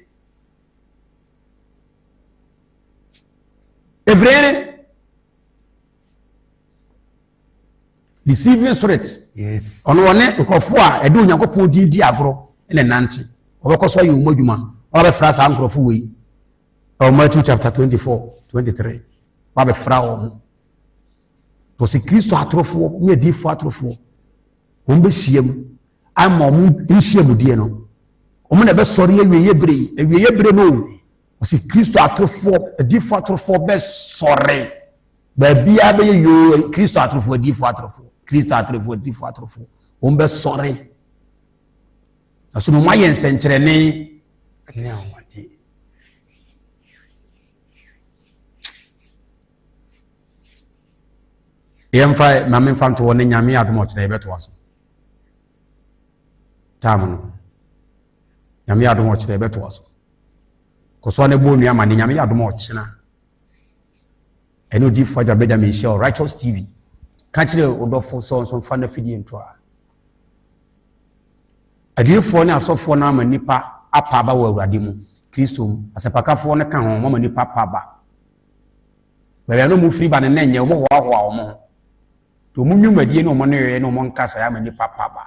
Evrene. Deceiving spirit. Yes. Ɔno wɔne nkurɔfoɔ a ɛde Onyankopɔn din di agorɔ na nante. Wɔbɛkɔ so ayɛ wɔn adwuma. Wɔabɛfra saa nkurɔfoɔ wɔ yi. Ɛwɔ Matthew chapter twenty four twenty three. Wɔabɛfra wɔn. Wɔsi Kristo atorofoɔ ne adiifoɔ atorofoɔ. Wɔn bɛhyia mu ama wɔn nhyiamudeɛ no. Wɔn na ɛbɛsɔre awieeɛ bere yi. Awieeɛ bere no Ɔsi Kristo atorofoɔ adiifoɔ atorofoɔ bɛ sɔre baabiara bɛyɛ yoo Kristo atorofoɔ adiifoɔ atorofoɔ Kristo atorofoɔ adiifoɔ atorofoɔ wɔn bɛ sɔre ɛso na wɔn ayɛ nsɛnkyerɛnne ɛne ahoɔden yɛn fa maame nfa ntoɔ ne nyame adum ɔkyerɛ yɛ bɛ to aso taamu no nyame adum ɔkyerɛ yɛ bɛ to aso. kɔsɔɔ ne bɔ onua ma ne nyame yɛ adom a ɔkyena ɛne odiifo agya benjamin hyɛ righteous tv ka kyerɛ ɔdɔfo sɛ ɔnso mfa no afidie nto a adiifoɔ ne asɔfoɔ no ama nnipa apa aba wɔ awurade mu kristo mu asɛmpakafoɔ no ka ho mama nnipa apa aba baabi a na ɔmofiri ba no na ɛnyɛ ɔmɔhoahoa ɔmo ho nti ɔmo nnwumadie ne ɔmo nneyɛeɛ ne ɔmo nkasa ama nnipa apa aba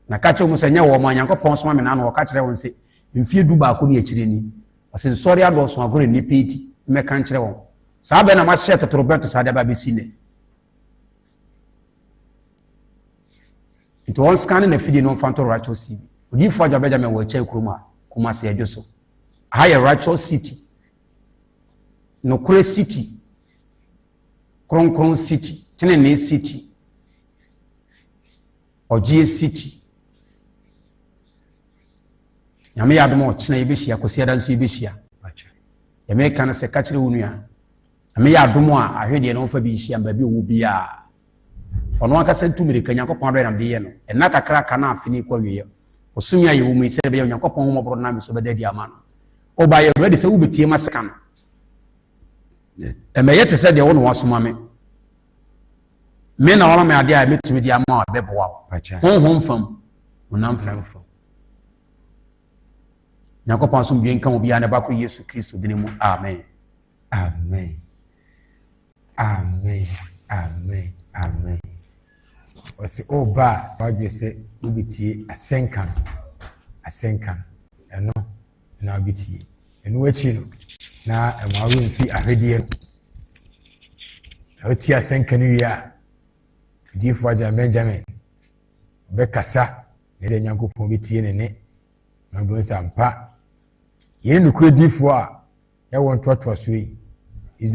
Na ka kyerɛ wɔn sɛ, nyɛ wɔn a Nyankopɔn soma me n'ano ɔka kyerɛ wɔn sɛ, mfie du baako ne akyire ni, ɔse nsɔre adɔɔso agorɔ nnipa adi, mmɛka nkyerɛ wɔn. Saa bɛ na mahyɛ totorobɛnto saa de aba abɛsi nnɛ. Nti wɔn scan ne n'afidie no mfa nto Righteous TV. Odiyifoɔ Agya Benjamin wɔ Ɛkyɛe kurom a Kumasi adwo so. Aha yɛ Righteous City. Nokorɛ City. Kronkron City, Tenenee City, Ɔgyeɛ City. Nyame yɛ adom a ɔkyena yɛbɛhyia, Kwasiada nso yɛbɛhyia. Yɛ meka no sɛ ka kyerɛ wo nua, Nyame yɛ adom a ahwɛ deɛ na ɔmfa bi nhyia mbaabi ɔwɔ biara. Ɔno ankasa ntu mmirika, Nyankopɔn adɔyɛ nam de yɛ no. Ɛnna kakra aka na afe no rekɔ awieɛ. Ɔsumi a yɛwɔ mu yi, sɛdeɛ ɛbɛyɛ Onyankopɔn homɔborɔ nam so bɛda adi ama no. Ɔba yɛ ready sɛ wobɛtie ma sika no. ɛmɛyɛ te sɛ deɛ wo na wasoma me me na wama me adeɛ a mɛtumi de ama a bɛboa wo honhom fam honam fam nyankopɔn asomdwe nka wo biara ne bakoro yesu kristo dini mu amen amen amen amen amen ɔsɛ ɔba a wadwe sɛ wobɛtie asɛnka no asɛnka no ɛno na wobɛtie. Ɛno akyi no, na ɛma wo werɛ fi ahwedeɛ no. Na wotie asɛnka no wie a, odiyifoɔ agya Benjamin bɛkasa na ɛdeɛ Nyankopɔn bɛtie ne ne na wobɛhu sɛ ampa yɛne nokorɛ difoɔ a ɛwɔ ntoatoasoɔ yi